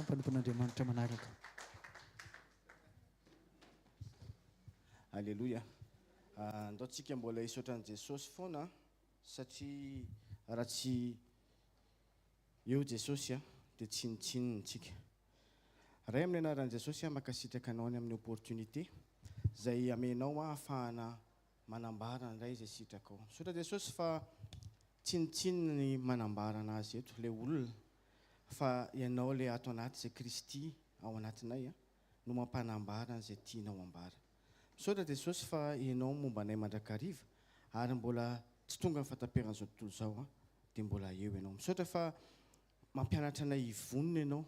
mpanompon'Andriamanitra manaraka. Aleloia. Andao tsika mbola hisaotra an'i Jesosy foana satria raha tsy eo Jesosy a, dia tsinontsinona tsika. Ray amin'ny anaran'i Jesosy aho mankasitraka anao ny amin'ny opportunité izay amenao aho ahafahana manambara indray izay sitrakao. Misaotra Jesosy fa tsinontsinona ny manambara an'azy eto ilay olona fa ianao ilay ato anaty izay Kristy ao anatinay a, no mampanambara an'izay tianao hambara. Misaotra Jesosy fa ianao momba anay mandrakariva ary mbola tsy tonga ny fataperan'izao tontolo izao a, dia mbola eo ianao. Misaotra fa mampianatra anay hivonona ianao,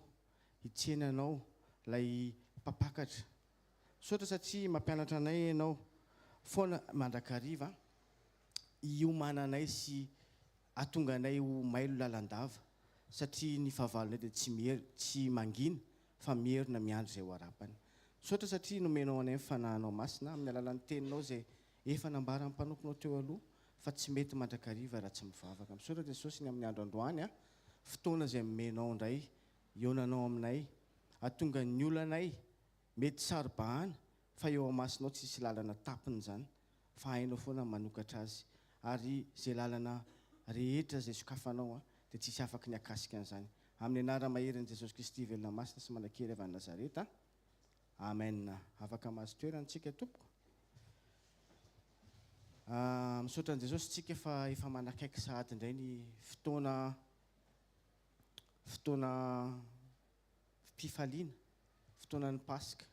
hitsena anao ilay mpampakatra. Misaotra satria mampianatra anay ianao foana mandrakariva a, hiomananay sy Ahatonga anay ho mailo lalandava, satria ny fahavalonay dia tsy mier, tsy mangina, fa mierona miandry izay ho arapany. Misaotra satria nomenao anay ny Fanahinao Masina, amin'ny alalan'ny Teninao izay efa nambaran'ny mpanomponao teo aloha, fa tsy mety mandrakariva raha tsy mivavaka. Misaotra Jesosy ny amin'ny andro androany an, fotoana izay nomenao indray, ionanao aminay, hahatonga ny olanay Mety saro-bahana fa eo amasinao tsisy lalana tapiny izany fa hainao foana ny manokatra azy ary izay lalana rehetra izay sokafanao dia tsisy afaky ny hakasika an'izany amin'ny anara maherin' Jesosy Kristy velona masina sy manankery avy any Nazareta Amen Afaka mahazo toerana tsika tompoko ah misaotra an'i Jesosy tsika fa efa manakaiky sahady indray ny fotoana fotoana mpifaliana, fotoanan'ny Paska.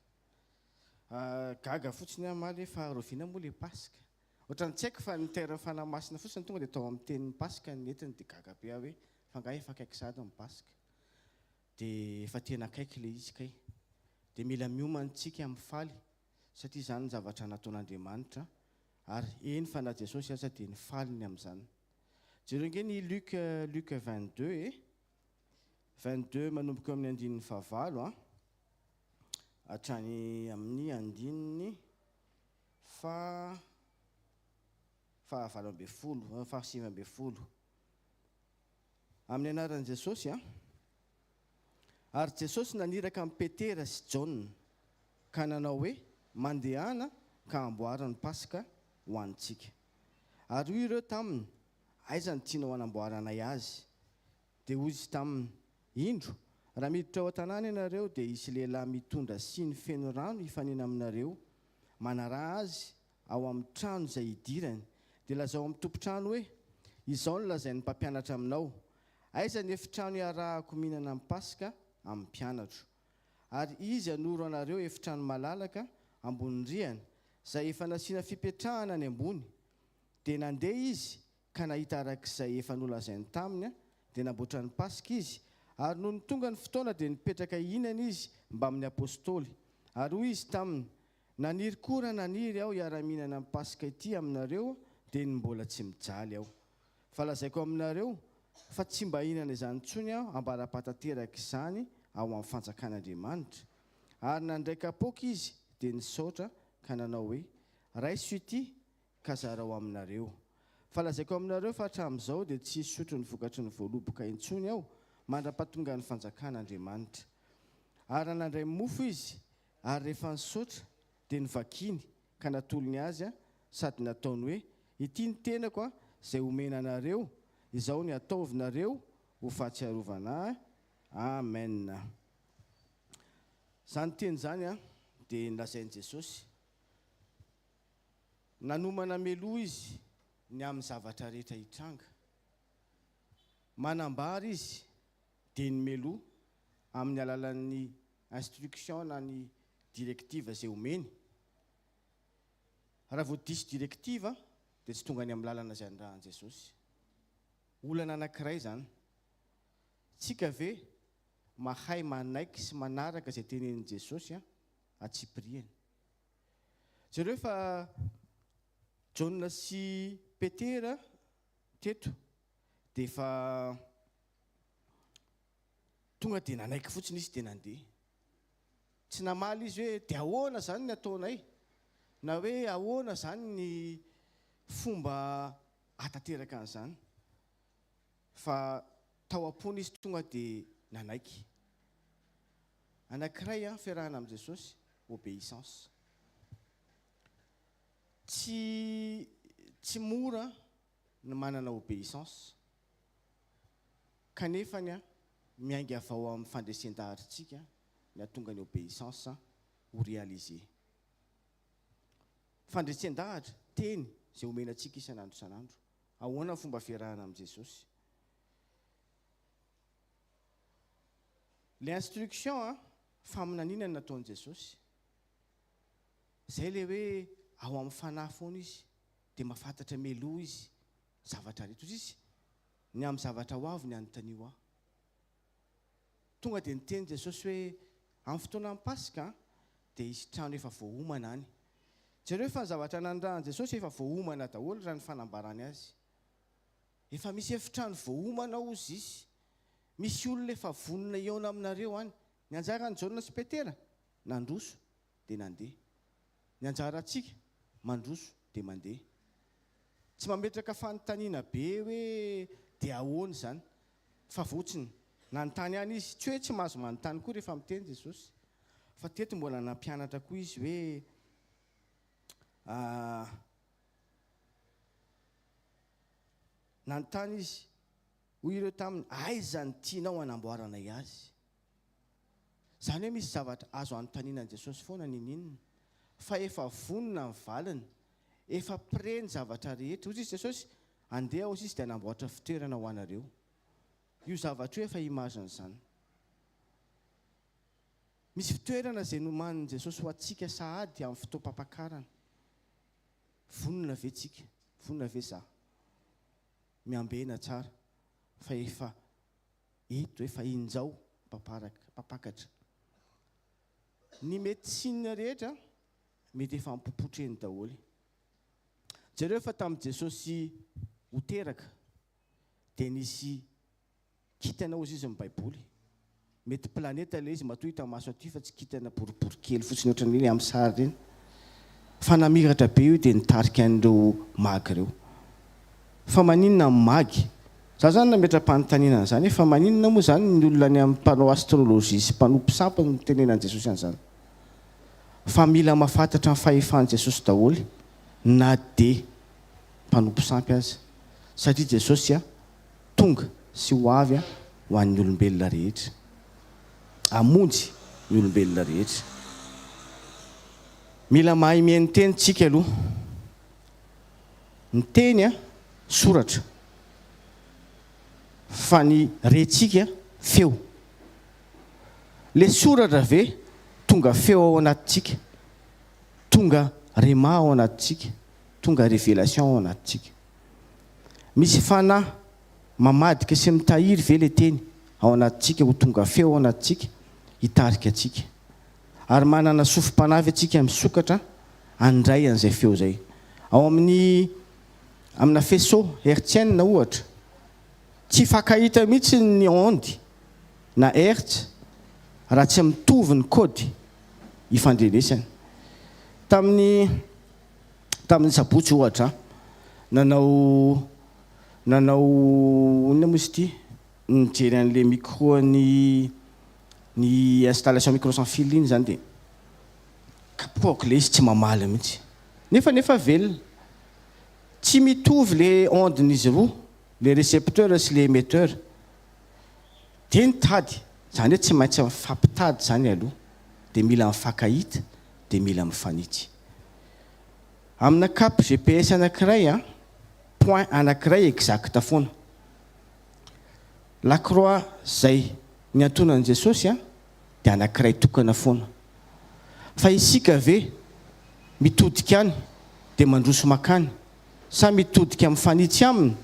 Gaga fotsiny aho omaly hoe fa rahoviana moa ilay Paska? Ohatran'ny tsy haiko fa ny terme Fanahy Masina fotsiny tonga dia tao amin'ny tenin'ny Paska no nentiny dia gaga be aho hoe fa angaha efa akaiky sahady ny Paska? Dia efa tena akaiky ilay izy kay. Dia mila miomana isika mifaly satria izany ny zavatra nataon'Andriamanitra ary eny fa na Jesosy aza dia nifaly ny amin'izany. Jereo ange ny Luc, Luc 22 e. Vingt-deux, manomboka eo amin'ny andininy fahavalo an, hatrany amin'ny andininy faha fahavalo ambin'ny folo, eo amin'ny fahasivy ambin'ny folo. Amin'ny anaran'i Jesosy an. Ary Jesosy naniraka an'i Petera sy Jaona, ka nanao hoe, Mandehana ka amboary ny Paska ho antsika. Ary hoy ireo taminy, Aiza no tianao hanamboaranay azy? Dia hoy izy taminy, Indro, raha miditra ao an-tanàna ianareo, dia hisy lehilahy mitondra siny feno rano hifanena aminareo, manaraha azy ao amin'ny trano izay hidirany. Dia lazao amin'ny tompon-trano hoe, Izao no lazain'ny mpampianatra aminao, Aiza ny efitrano hiarahako mihinana ny Paska amin'ny mpianatro? Ary izy hanoro anareo efitrano malalaka ambonin'ny rihana, izay efa nasiana fipetrahana any ambony. Dia nandeha izy ka nahita araka izay efa nolazainy taminy, dia namboatra ny Paska izy, ary nony tonga ny fotoana dia nipetraka hihinana izy mbamin'ny Apostoly, ary hoy izy taminy, Naniry koa raha naniry aho hiara-mihinana ny Paska ity aminareo dia ny mbola tsy mijaly aho. Fa lazaiko aminareo, fa tsy mba hihinana izany intsony aho ambara-pahatanteraka izany ao amin'ny fanjakan'Andriamanitra. Ary nandray kapoaka izy dia nisaotra ka nanao hoe, Raiso ity, ka zarao aminareo. Fa lazaiko aminareo fa hatramin'izao dia tsy hisotro ny vokatry ny voaloboka intsony aho mandra-pahatongan'ny fanjakan'Andriamanitra. Ary raha nandray mofo izy, ary rehefa nisaotra, dia novakiany, ka natolony azy, sady nataony hoe, Ity ny tenako izay homena anareo, izao ny ataovinareo ho fahatsiarovana ahy. Amena. Izany teny izany dia nolazain'i Jesosy. Nanomana meloa izy ny amin'ny zavatra rehetra hitranga. Manambara izy dia ny meloa amin'ny alalan'ny instruction na ny directive izay omeny. Raha vao diso directive dia tsy tonga any amin'ny lalana izay anirahan'i Jesosy. Olana anankiray izany. Tsika ve mahay manaiky sy manaraka izay tenenin'i Jesosy antsipiriany? Jereo fa Jaona sy Petera teto dia efa tonga dia nanaiky fotsiny izy dia nandeha. Tsy namaly izy hoe dia ahoana izany ny ataonay? Na hoe ahoana izany ny fomba ahatanteraka an'izany? Fa tao am-pony izy tonga dia nanaiky. Anankiray an, fiarahana amin'i Jesosy, obeissance. Tsy, tsy mora ny manana obeissance. Kanefa ny an, miainga avy ao amin'ny fandresen-daharintsika ny hahatonga ny obeissance ho réalisé. Fandresen-dahatra, teny, izay omena antsika isan'andro isan'andro. Ahoana ny fomba fiarahana amin'i Jesosy? Ilay instruction an, faminaniana no nataon'i Jesosy. Izay ilay hoe ao amin'ny fanahy foana izy, dia mahafantatra mialoha izy zavatra rehetra. Hoy izy, ny amin'ny zavatra ho avy ny anontanio ahy. Tonga dia niteny Jesosy hoe, Amin'ny fotoanan'ny Paska dia hisy trano efa voaomana any. Jereo fa ny zavatra nanirahan'i Jesosy efa voaomana daholo raha ny fanambarany azy. Efa misy efitrano voaomana ao hozy izy. Misy olona efa vonona hihaona aminareo any. Ny anjaran'i Jaona sy Petera? Nandroso. dia nandeha. Ny anjarantsika, mandroso dia mandeha. Tsy mametraka fanontaniana be hoe dia ahoana izany? Fa votsiny, nanontany ihany izy. Tsy hoe tsy mahazo manontany koa rehefa miteny Jesosy. Fa teto mbola nampianatra koa izy hoe ah, nanontany izy, hoy ireo taminy, Aiza ny tianao hanamboaranay azy? Izany hoe misy zavatra azo anontaniana an'i Jesosy foana niniana fa efa vonona ny valiny, efa prêt ny zavatra rehetra. Hoy izy Jesosy, Andeha aho sy izy dia hanamboatra fitoerana ho anareo. Io zavatra io efa image an'izany. Misy fitoerana izay nomanin'i Jesosy ho antsika sahady amin'ny fotoam-pampakarana. Vonona ve tsika? Vonona ve za? Miambena tsara fa efa Eto efa injao mpamparaka, mpampakatra. Ny médecine rehetra mety efa ampopotreny daholo. Jereo fa tamin'i Jesosy ho teraka dia nisy kintana hozy izy ny baiboly. Mety planeta ilay izy matoa hita maso aty fa tsy kintana boribory kely fotsiny ohatran'ireny amin'ny sary ireny. Fa namiratra be io dia nitarika an'ireo magy ireo. Fa maninona ny mag? Za zany nametra-panontaniana an'izany hoe fa maninona moa zany ny olona any amin'ny mpanao astrologie sy mpanompo sampy no mitenenan'i Jesosy an'izany? Fa mila mafatatra ny fahefan'i Jesosy daholo na dia mpanompo sampy aza satria Jesosy a tonga sy ho avy a ho an'ny olombelona rehetra. Hamonjy ny olombelona rehetra. Mila mahay mihaino teny tsika aloha. ny teny a soratra fa ny rentsika feo le soratra ve tonga feo ao anatintsika tonga rema ao anatintsika tonga revelation ao anatintsika misy fanahy mamadika sy mitahiry ve le teny ao anatintsika ho tonga feo ao anatintsika hitarika antsika ary manana sofim-panavy antsika misokatra handray an'izay feo izay. Ao amin'ny amina faisceau hertzienne ohatra, tsy hifankahita mihitsy ny onde na hertz raha tsy mitovy ny kody ifandrenesany. Tamin'ny tamin'ny sabotsy ohatra, nanao nanao inona moa izy ity? Nijery an'ilay micro-n'i Ny installation micro sans fil iny zany dia kapohako ilay izy tsy mamaly mihitsy nefa nefa velona. Tsy mitovy le onde n'izy roa, le recepteur sy le emetteur. Dia ny tady, zany hoe tsy maintsy mifampitady zany aloha, dia mila mifankahita, dia mila mifanitsy. Amina cap GPS anakiray an, point anakiray exact foana. La croix zay niantonan'i Jesosy a dia anakiray tokana foana. Fa isika ve mitodika any dia mandroso makany sa mitodika mifanitsy aminy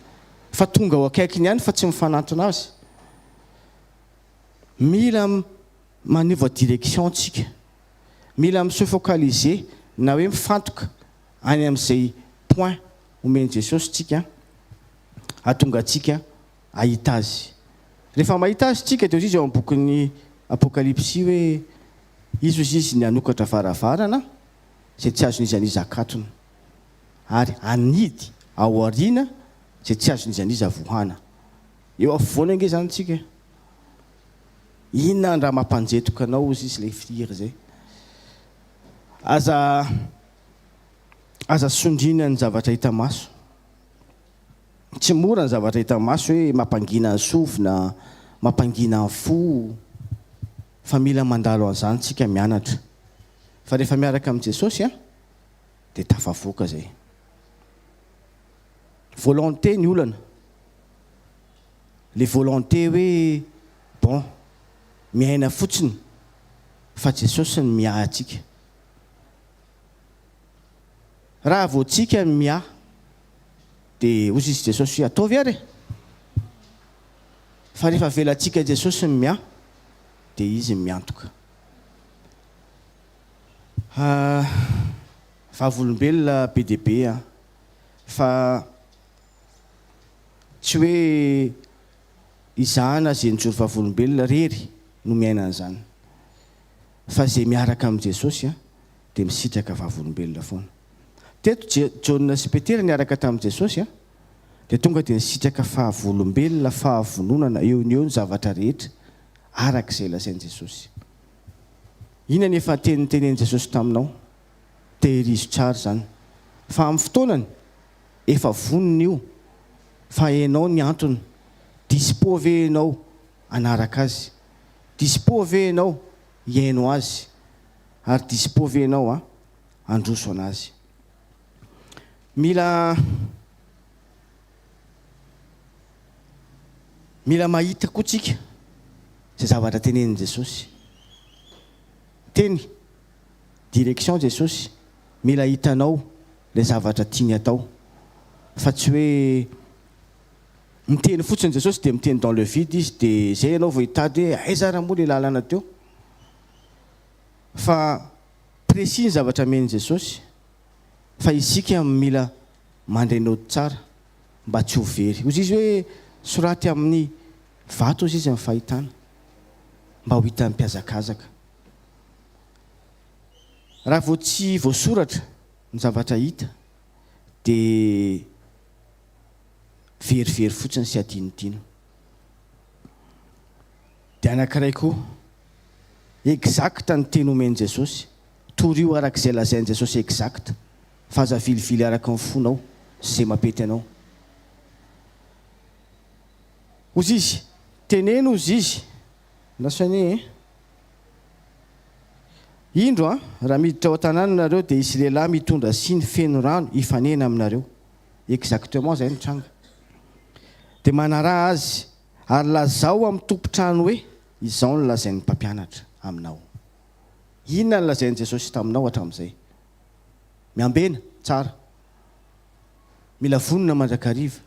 fa tonga ao akaikiny ihany fa tsy mifanantona azy? Mila manova direction tsika. Mila mi se focaliser na hoe mifantoka any amin'izay point omen'i Jesosy tsika ahatonga antsika hahita azy. Rehefa mahita azy tsika dia hoy izy ao amin'ny bokin'ny Apokalypsy hoe izy hoy izy ny hanokatra varavarana izay tsy azon'iza n'iza akatona ary hanidy ao aoriana izay tsy azon'iza n'iza vohana. Eo afovoany ange izany tsika. Inona ndra mampanjetoka anao hoy izy ilay fihira izay. Aza aza sondriana ny zavatra hita maso. Tsy mora ny zavatra hita maso hoe mampangina ny sofina, mampangina ny fo, fa mila mandalo an'izany tsika mianatra. Fa rehefa miaraka amin'i Jesosy an, dia tafavoaka izay. Volonté ny olana. Le volonté hoe bon, miaina fotsiny, fa Jesosy no miahy antsika. Raha vao tsika ny miahy dia hozy izy Jesosy hoe ataovy ary e! Fa rehefa avelantsika Jesosy ny miahy dia izy miantoka. Ah, vavolombelona be dia be an! Fa tsy hoe izaho na ze nijoro vavolombelona rery no miaina an'izany. fa izay miaraka amin'i Jesosy dia misitraka vavolombelona foana. Teto, Jaona sy Petera niaraka tamin'i Jesosy, dia tonga dia nisitraka fahavolombelona, fahavononana, eo no eo ny zavatra rehetra, araka izay lazain'i Jesosy. Inona ny efa antenintenenin'i Jesosy taminao? Tehirizo tsara izany, fa amin'ny fotoanany, efa vonona io, fa hainao ny antony. Dispo ve ianao? hanaraka azy. Dispo ve ianao hihaino azy? Ary dispo ve ianao handroso an'azy? Mila Mila mahita koa tsika izay zavatra tenenin'i Jesosy. Miteny direction Jesosy, mila hitanao ilay zavatra tiany atao fa tsy hoe Miteny fotsiny Jesosy dia miteny dans le vide izy dia zay ianao vao hitady hoe aiza ary moa le lalana teo? Fa précis ny zavatra amen'i Jesosy fa isika mila mandray naoty tsara mba tsy ho very. Hozy izy hoe soraty amin'ny vato hozy izy ny fahitana mba ho hitan'ny mpihazakazaka. Raha vao tsy voasoratra ny zavatra hita dia. very very fotsiny sy adinodino. Dia anankiray koa, exact ny teny omen'i Jesosy, torio araka izay lazain'i Jesosy exact, fa aza avilivily araka ny fonao sy izay mampety anao. Hozizy, teneno hozizy, na soigner eh. Indro an! raha miditra ao an-tanàna ianareo dia hisy lehilahy mitondra siny feno rano hifanena aminareo. Exactement izay nitranga. Dia manaraha azy, ary lazao amin'ny tompon-trano hoe, Izao no lazain'ny mpampianatra aminao. Inona no lazain'i Jesosy taminao hatramin'izay? Miambena, tsara. Mila vonona mandrakariva.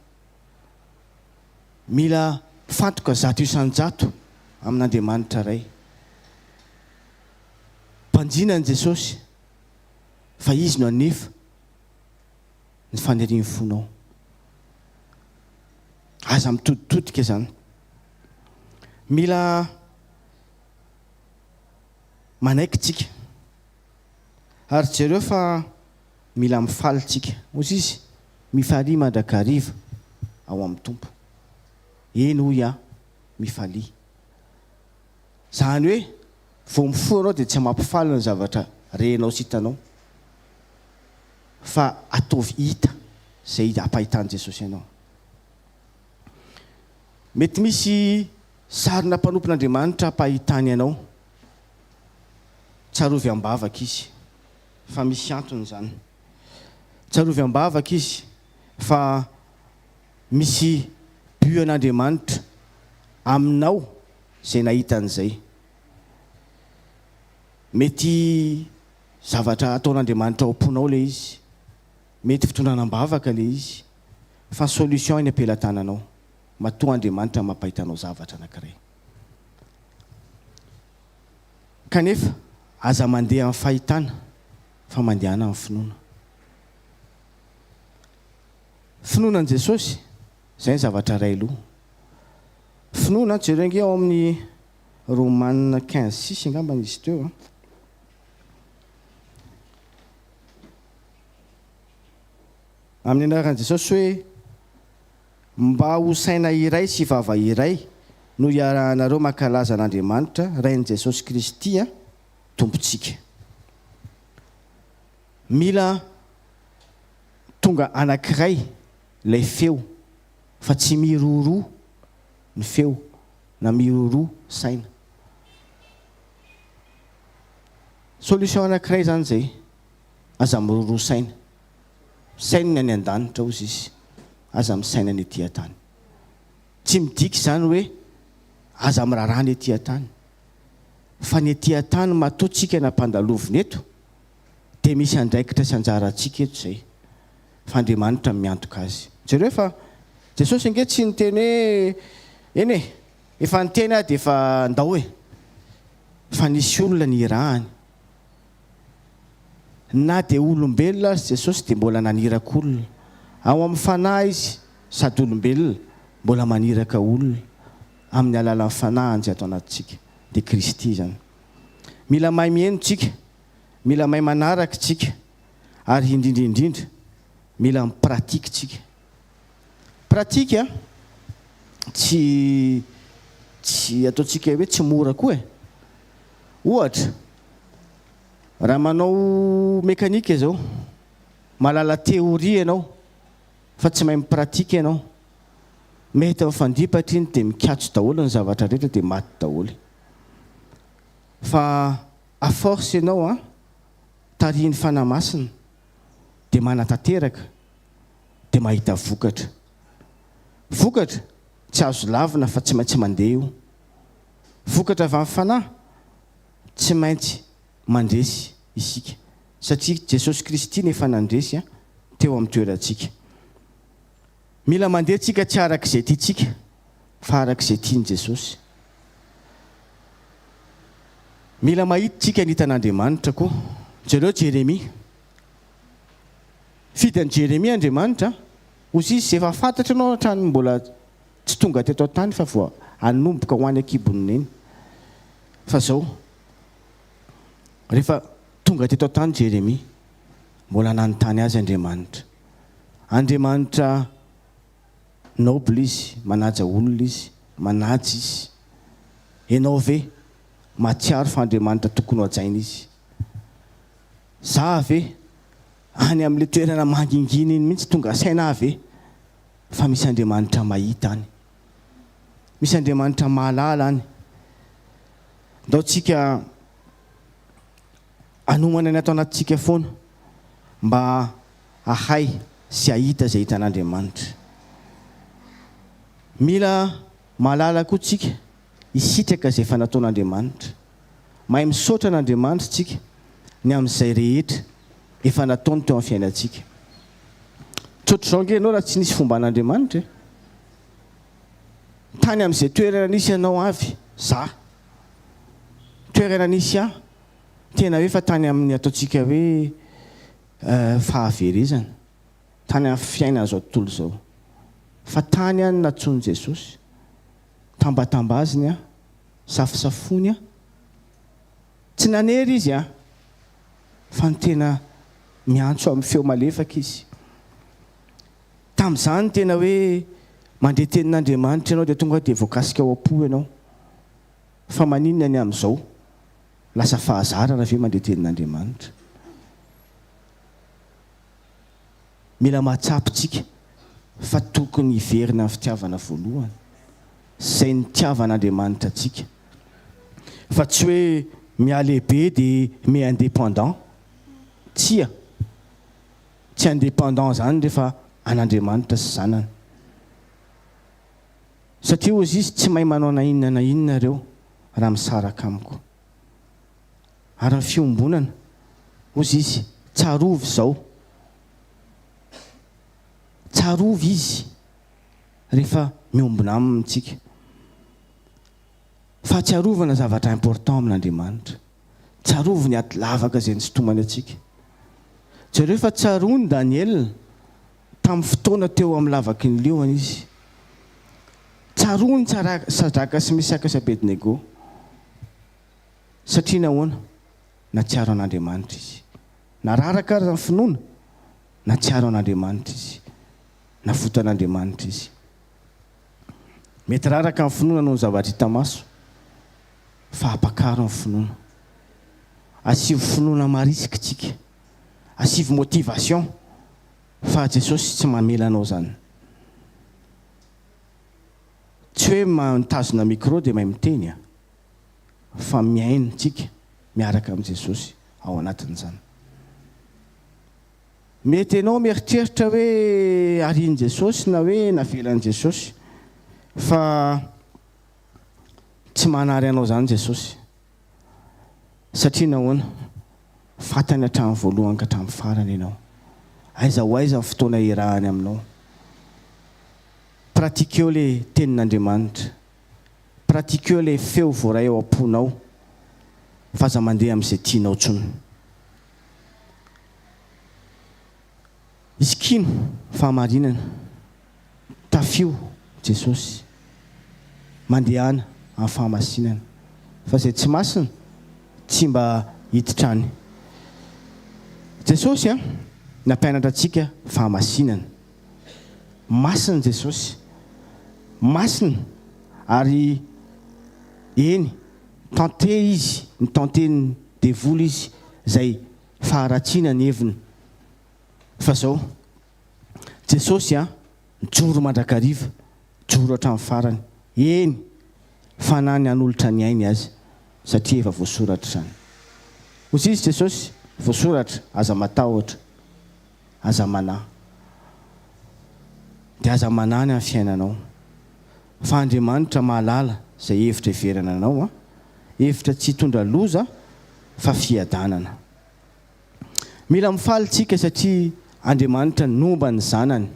Mila fantoka zato isan-jato amin'Andriamanitra Ray. Mpanjina an'i Jesosy fa Izy no hanefa ny fanirian'ny fonao. Aza mitoditodika izany. Mila manaiky tsika. Ary jereo fa mila mifaly tsika. Hoy izy, Mifalia mandrakariva ao amin'ny Tompo. Eny, hoy aho, mifalia. Izany hoe, vao mifoha ianao dia tsy mampifaly ny zavatra renao sy hitanao, fa ataovy hita izay ampahitan'i Jesosy anao. Mety misy sarina mpanompon'Andriamanitra ampahitany anao Tsarovy am-bavaka izy fa misy antony izany. Tsarovy am-bavaka izy fa misy but an'Andriamanitra aminao izay nahita an'izay. Mety zavatra ataon'Andriamanitra ao am-ponao ilay izy, mety fitondrana am-bavaka ilay izy, fa solution eny am-pelatananao. Matoa Andriamanitra mampahita anao zavatra anankiray. Kanefa, aza mandeha amin'ny fahitana, fa mandehana amin'ny finoana. Finoana an'i Jesosy, izay ny zavatra iray aloha. Finoana, jereo ange ao amin'ny Romana quinze six angambany izy teo an. Amin'ny anaran'i Jesosy hoe. Mba ho saina iray sy vava iray no iarahanareo mankalaza an'Andriamanitra Rain'i Jesosy Kristy Tompontsika. Mila tonga anankiray ilay feo fa tsy miroroa ny feo na miroroa saina. Solution anankiray izany izay, aza miroroa saina. Misaina ny any an-danitra hozy izy, aza misaina ny ety an-tany. Tsy midika izany hoe aza miraharaha ny ety an-tany, fa ny ety an-tany matoa tsika nampandalovina eto dia misy andraikitra sy anjara antsika eto izay, fa Andriamanitra no miantoka azy. Jereo fa Jesosy ange tsy niteny hoe eny e, efa niteny aho dia efa ndao e, fa nisy olona nirahany. Na dia olombelona aza Jesosy dia mbola naniraka olona. Ao amin'ny Fanahy Izy, sady olombelona, mbola maniraka olona amin'ny alalan'ny Fanahiny izay ato anatintsika. Dia Kristy izany. Mila mahay miheno tsika, mila mahay manaraka tsika, ary indrindra indrindra, mila mi-pratique tsika. Pratique a! Tsy tsy ataontsika hoe tsy mora koa e! Ohatra, raha manao mécanique zao, mahalala théorie ianao fa tsy mahay mi-pratique ianao, mety mifandipatra iny dia mikatso daholo ny zavatra rehetra dia maty daholo. Fa à force ianao a, tarihin'ny Fanahy Masina dia manatanteraka. dia mahita vokatra. Vokatra tsy azo lavina fa tsy maintsy mandeha io. Vokatra avy amin'ny fanahy tsy maintsy mandresy isika satria Jesosy Kristy no efa nandresy teo amin'ny toerantsika. Mila mandeha tsika tsy araka izay tiantsika fa araka izay tian'i Jesosy. Mila mahita tsika ny hitan'Andriamanitra koa. Jereo Jeremia. Fidy an'i Jeremia Andriamanitra, hozy izy, efa fantatro ianao hatrany mbola tsy tonga teto an-tany fa vao hanomboka ho any an-kibon'ny Neny. Fa izao, rehefa tonga teto an-tany Jeremia, mbola nanontany azy Andriamanitra. Andriamanitra noble izy, manaja olona izy, manaja izy. Ianao ve mahatsiaro fa Andriamanitra tokony hohajaina izy? Za ve any amle toerana mangingina iny mihitsy tonga saina ahy ve fa misy Andriamanitra mahita any? Misy Andriamanitra mahalala any? Ndao tsika anomana ny ato anatintsika foana mba ahay sy ahita zay hitan'Andriamanitra. Mila mahalala koa tsika hisitraka zay efa nataon'Andriamanitra. Mahay misaotra an' Andriamanitra isika ny amin' izay rehetra efa nataony teo amin' ny fiainantsika. Tsy ohatr' izao ange ianao raha tsy nisy fomban' Andriamanitra e! Tany amin' izay toerana nisy anao avy za. Toerana nisy ahy, tena hoe efa tany amin' ny ataontsika hoe fahaverezana, tany amin' ny fiainan' izao tontolo izao, fa tany aho no natsoin' i Jesosy. tambatambaziny an, safosafony an, tsy nanery izy an, fa ny tena miantso amin'ny feo malefaka izy. Tamin'izany tena hoe mandre tenin'Andriamanitra ianao dia tonga dia voakasika ao am-po ianao. Fa maninona ny amin'izao? Lasa fahazarana ve mandre tenin'Andriamanitra? Mila mahatsapa isika fa tokony hiverina amin'ny fitiavana voalohany, izay nitiavan'Andriamanitra antsika. Fa tsy hoe mihalehibe dia mi-indépendant. Tsia. Tsy indépendant izany rehefa an'Andriamanitra sy Zanany. Satria hozy Izy, Tsy mahay manao na inona na inona ireo raha misaraka Amiko. Ary ny fiombonana, hozy izy, tsarovy izao. Tsarovy izy rehefa miombona aminy isika. Fahatsiarovana zavatra important amin'Andriamanitra. Tsarovy ny ady lavaka izay nisintomany antsika. Jereo fa tsaroan'i Daniela. tamin'ny fotoana teo amin'ny lavaky ny liona izy. Tsaroany Sadraka sy Mesaka sy Abednego. Satria nahoana? Nahatsiaro an'Andriamanitra izy. Nararaka aza ny finoana, nahatsiaro an'Andriamanitra izy. Navotan'Andriamanitra izy. Mety raraka ny finoana noho ny zavatra hita maso, fa apakaro ny finoana. Asivo finoana marisika isika. asivo motivation fa Jesosy tsy mamela anao zany tsy hoe mitazona micro de mahay miteny a fa mihaino tsika miaraka am Jesosy ao anatin zany mety enao mieritreritra hoe arian Jesosy na hoe navelan Jesosy fa tsy manary anao zany Jesosy Satria nahoana? Fantany hatramin'ny voalohany ka hatramin'ny farany ianao. Aiza ho aiza ny fotoana iarahany aminao? Pratiqueo ilay Tenin'Andriamanitra. Pratiqueo ilay feo voaray ao am-ponao f'aza mandeha amin'izay tianao intsony. Izy kino fahamarinana. Tafio Jesosy, mandehana amin'ny fahamasinana, fa izay tsy masina tsy mba hiditra any. Jesosy an, nampianatra antsika fahamasinana. Masina Jesosy, masina ary eny, tante Izy, ny tanten'ny devoly Izy izay faharatsiana ny heviny. Fa izao. Jesosy a! mijoro mandrakariva, mijoro hatramin'ny farany, eny, fanahy ny hanolotra ny ainy azy, satria efa voasoratra izany. Hoy izy, Jesosy, voasoratra, aza matahotra, aza manahy. Dia aza manahy ny amin'ny fiainanao, fa Andriamanitra mahalala izay hevitra hiverana anao, hevitra tsy hitondra loza fa fiadanana. Mila mifaly isika satria Andriamanitra nomba ny zanany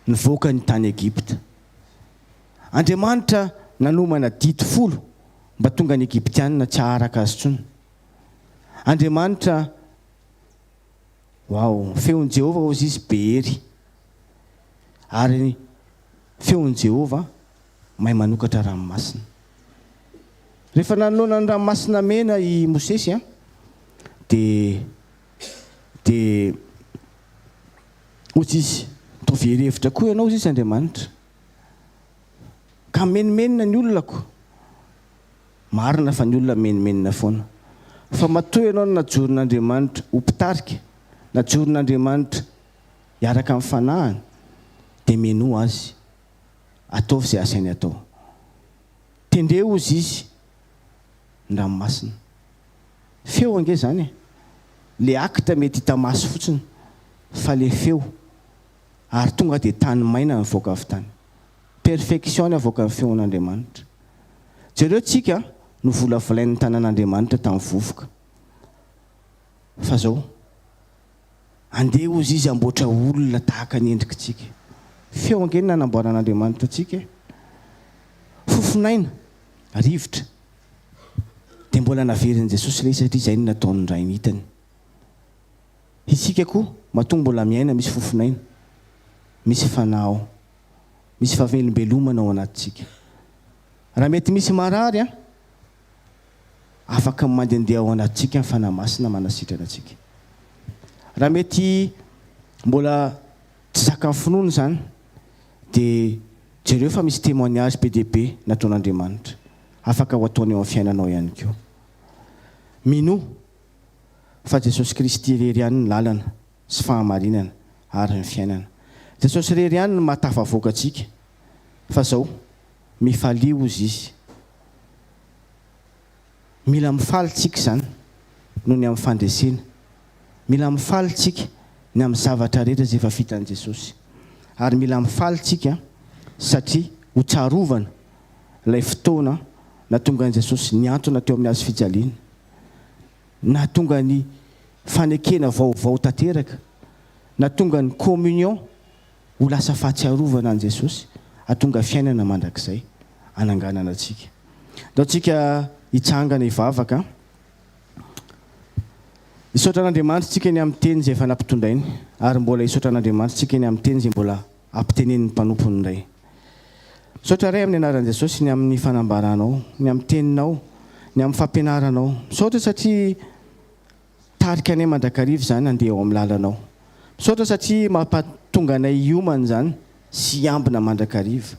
nivoaka ny tany Egypta. Andriamanitra nanomana didy folo mba tonga ny Egyptianina tsy haharaka azy intsony. Andriamanitra Wow, feon'i Jehovah hozy izy be hery. Ary feon'i Jehovah mahay manokatra ranomasina. Rehefa nanoloana ny Ranomasina Mena i Mosesy, dia dia hoy izy, Toa very hevitra koa ianao, hoy izy Andriamanitra, ka mimenomenona ny olonako. Marina fa ny olona mimenomenona foana. Fa matoa ianao no najoron'Andriamanitra ho mpitarika, najoron'Andriamanitra hiaraka amin'ny fanahiny, dia menoa Azy. Ataovy izay asainy atao. Tendreo hozy izy ny ranomasina. Feo ange zany e! Le acte mety hita maso fotsiny fa le feo ary tonga dia tany maina nivoaka avy tany. Perfection ny avoakan'ny feon'Andriamanitra. Jereo tsika no volavolain'ny tanan'Andriamanitra tamin'ny vovoka fa zao. Andeha hozy izy hamboatra olona tahaka ny endrikitsika. Feo ange ny nanamboaran'Andriamanitra antsika e! Fofon'aina, rivotra. Dia mbola naverin'i Jesosy ilay izy satria izay no nataon'ny Rainy hitany. Isika koa matoa mbola miaina misy fofon'aina, misy fanahy ao, misy fahavelombelomana ao anatintsika. Raha mety misy marary an! afaka mandendeha ao anatintsika ny Fanahy Masina manasitrana antsika. Raha mety mbola tsy zakan'ny finoana izany dia jereo fa misy témoignage be dia be nataon'Andriamanitra, afaka ho ataony eo amin'ny fiainanao ihany koa. Minoa fa Jesosy Kristy irery ihany ny lalana sy fahamarinana ary ny fiainana. Jesosy irery ihany no mahatafavoaka antsika fa izao. Mifalia hozy izy. Mila mifaly tsika izany noho ny amin'ny fandresena. Mila mifaly tsika ny amin'ny zavatra rehetra izay efa vitan'i Jesosy. Ary mila mifaly tsika satria ho tsarovana ilay fotoana natongan'i Jesosy nihantona teo amin'ny hazo fijaliana. Nahatonga ny fanekena vaovao tanteraka. Nahatonga ny communion Ho lasa fahatsiarovana an'i Jesosy hahatonga fiainana mandrakizay hananganana antsika. Ndao tsika hitsangana hivavaka. Hisaotra an'Andriamanitra tsika ny amin'ny teny izay efa nampitondrainy ary mbola hisaotra an'Andriamanitra tsika ny amin'ny teny izay mbola hampitenenin'ny mpanompony indray. Misaotra Ray amin'ny anaran'i Jesosy ny amin'ny fanambaranao, ny amin'ny teninao, ny amin'ny fampianaranao. Misaotra satria Tarika anay mandrakariva izany handeha eo amin'ny lalanao. Misaotra satria mampatonga anay hiomana izany sy hiambina mandrakariva.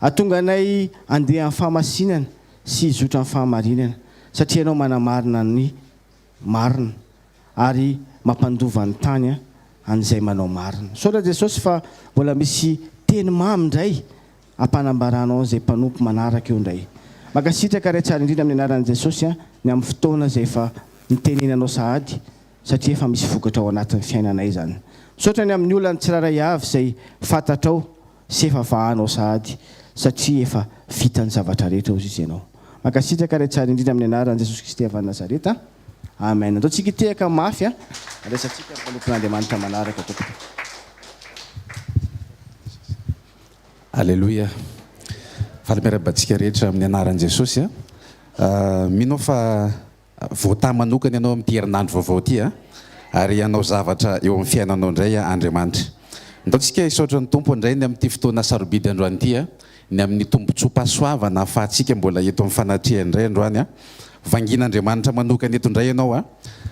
Atonga anay handeha amin'ny fahamasinana sy hizotra amin'ny fahamarinana satria ianao manamarina ny marina ary mampandova ny tany an'izay manao marina. Misaotra Jesosy fa mbola misy teny mamy indray ampanambaranao izay mpanompo manaraka eo indray. Mankasitraka Ray tsara indrindra amin'ny anaran'i Jesosy an ny amin'ny fotoana izay efa nitenenanao sahady satria efa misy vokatra ao anatin'ny fiainanay izany. Misaotra ny amin'ny olan'ny tsirairay avy izay fantatrao sy efa vahanao sahady satria efa vita ny zavatra rehetra hozy izy ianao. Mankasitraka Ray tsara indrindra amin'ny anaran'i Jesosy Kristy avy any Nazareta. Amen. Andao tsika hitehaka mafy an handraisantsika ny mpanompon'Andriamanitra manaraka tompoko. Aleloia! Faly miarahaba antsika rehetra amin'ny anaran'i Jesosy a! Mino aho fa voatahy manokana ianao amin'ity herinandro vaovao ity a! Ary hanao zavatra eo amin'ny fiainanao indray Andriamanitra. Ndao tsika hisaotra ny Tompo indray ny amin'ity fotoana sarobidy androany ity a! Ny amin'ny tombontsoam-pahasoavana ahafahantsika mbola eto amin'ny fanatrehany indray androany a! Vangian'Andriamanitra manokana eto indray ianao a!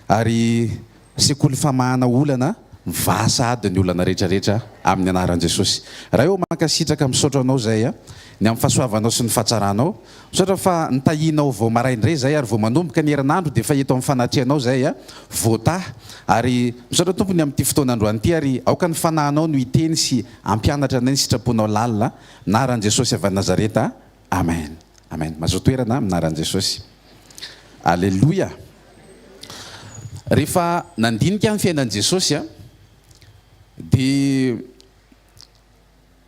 Ary Sekoly famahana olana mivaha sahady ny olana rehetra rehetra aminy anaran jesosy Ray ô mankasitraka misaotra anao zay a ny am fahasoavanao sy ny fahatsaranao misaotra fa nitahianao vao marain dray zay ary vao manomboka ny herinandro de efa eto am fanatrianao zay a vota ary misaotra tompo ny amity fotoana androany ty ary aoka ny fanahinao no hiteny sy ampianatra anay ny sitraponao lalina anaran jesosy avy any nazareta Amen Amen mazoa toerana amin'ny anaran'i Jesosy Aleloia Rehefa nandinika ny fiainan'i Jesosy a dia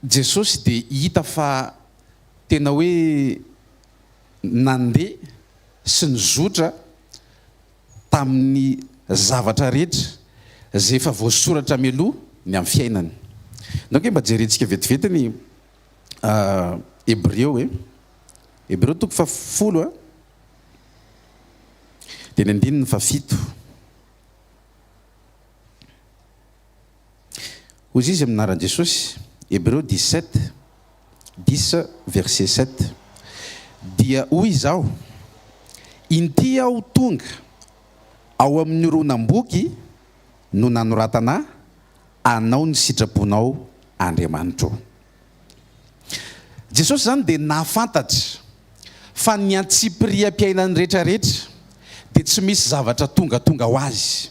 Jesosy dia hita fa tena hoe nandeha sy nizotra tamin'ny zavatra rehetra izay efa voasoratra mialoha ny amin'ny fiainany. Nao ange mba jerentsika vetivety ny Hebreo e, Hebreo toko fahafolo a, dia ny andininy fahafito. Hoy izy amin'ny anaran'i Jesosy, Hebreo 17, dix verset sept, Dia hoy Izaho, Inty Aho tonga, ao amin'ny horonam-boky no nanoratana Anao ny sitraponao Andriamanitra o. Jesosy izany dia nahafantatra fa ny antsipiriam-piainany rehetrarehetra dia tsy misy zavatra tongatonga ho azy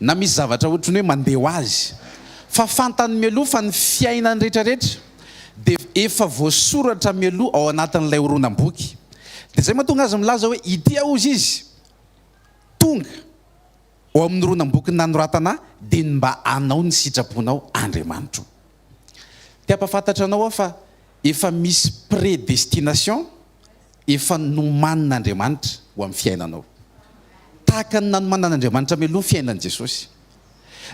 na misy zavatra ohatry ny hoe mandeha ho azy fa fantany mialoha fa ny fiainany rehetrarehetra dia efa voasoratra mialoha ao anatin'ilay horonam-boky dia izay mahatonga azy milaza hoe ity aho hozy izy tonga Ao amin'ny horonam-boky nanoratana dia ny mba hanao ny sitraponao Andriamanitro. Te hampafantatra anao aho fa efa misy predestination efa nomanin'Andriamanitra ho amin'ny fiainanao. Tahaka ny nanomanan'Andriamanitra mialoha ny fiainan'i Jesosy.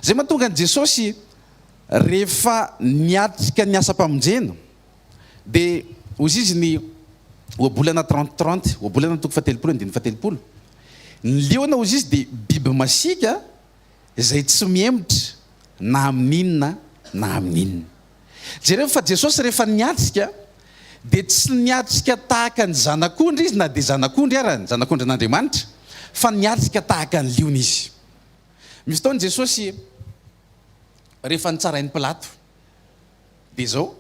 Izay mahatonga an'i Jesosy rehefa niatrika ny asam-pamonjena Dia hozy izy ny ohabolana trente trente, ohabolana toko fahatelopolo andininy fahatelopolo. Ny liona hozy izy dia biby masiaka izay tsy mihemotra na amin'inona na amin'inona. Jereo fa Jesosy rehefa niatrika dia tsy niatrika tahaka ny zanak'ondry izy na dia zanak'ondry ara, ny zanak'ondrin'Andriamanitra, fa niatrika tahaka ny liona izy. Misy fotoana Jesosy rehefa nitsarain'i Pilato. Dia izao,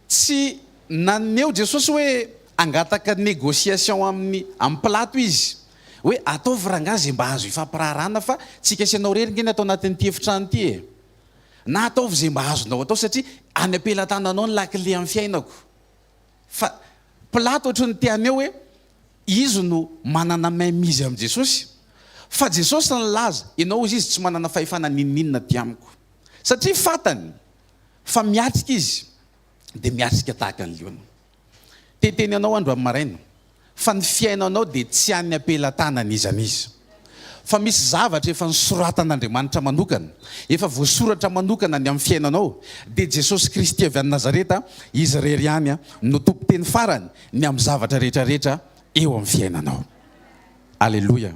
tsy naneho Jesosy hoe hangataka négociation amin'ny amin'ny Pilato izy, hoe ataovy rangahy izay mba azo ifampiraharahana fa tsy hikasy anao irery nge ny atao anatin'ity efitrano ity e! Na ataovy izay mba azonao atao satria any am-pelatananao ny lakile amin'ny fiainako. Fa Pilato ohatry ny te haneho hoe izy no manana mainmise amin'i Jesosy. Fa Jesosy nilaza, ianao hoy izy tsy manana fahefana n'inon'inona aty amiko. satria fantany fa miatrika izy dia miatrika tahaka ny liona. Te-hiteny anao aho androany maraina fa ny fiainanao dia tsy an'ny ampelatanana iza n'iza. Fa misy zavatra efa nosoratan'Andriamanitra manokana, efa voasoratra manokana ny amin'ny fiainanao, dia Jesosy Kristy avy any Nazareta, Izy irery ihany no tompon-teny farany ny amin'ny zavatra rehetra rehetra eo amin'ny fiainanao. Aleloia.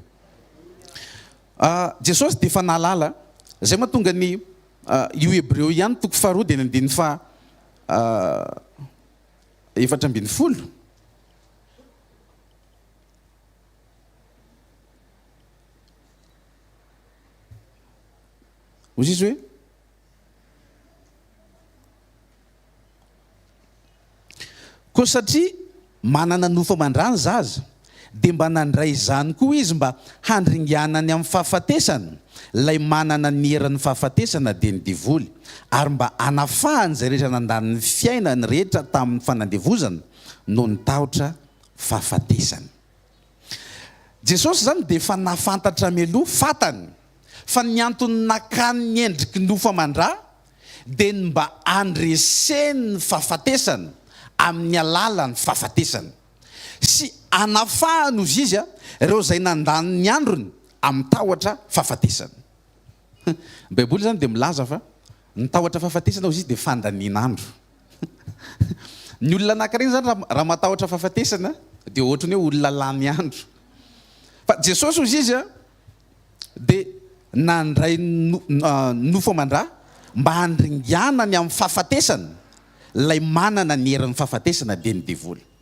Jesosy dia efa nahalala izay mahatonga ny io Hebreo ihany toko faharoa dia ny andininy faha efatra ambin'ny folo. Hoy izy hoe. Koa satria manana nofo aman-drà ny zaza, dia mba nandray izany koa izy mba handringanany amin'ny fahafatesana, ilay manana ny eran'ny fahafatesana dia ny devoly, ary mba hanafahany izay rehetra nandany ny fiainany rehetra tamin'ny fanandevozana noho ny tahotra fahafatesana. Jesosy izany dia efa nahafantatra mialoha, fantany, fa ny antony nakany ny endriky ny ofo aman-dra dia ny mba handreseny ny fahafatesana amin'ny alalan'ny fahafatesana, sy hanafahany, hozy izy, ireo izay nandany ny androny amin'ny tahotra fahafatesana. Ny Baiboly izany dia milaza fa ny tahotra fahafatesana, hozy izy, dia fandanian'andro. Ny olona anankiray zany raha matahotra fahafatesana dia ohatran'ny hoe olona lany andro. Fa Jesosy hozy izy a dia nandray nofo aman-dra mba handringanany amin'ny fahafatesana ilay manana ny herin'ny fahafatesana dia ny devoly.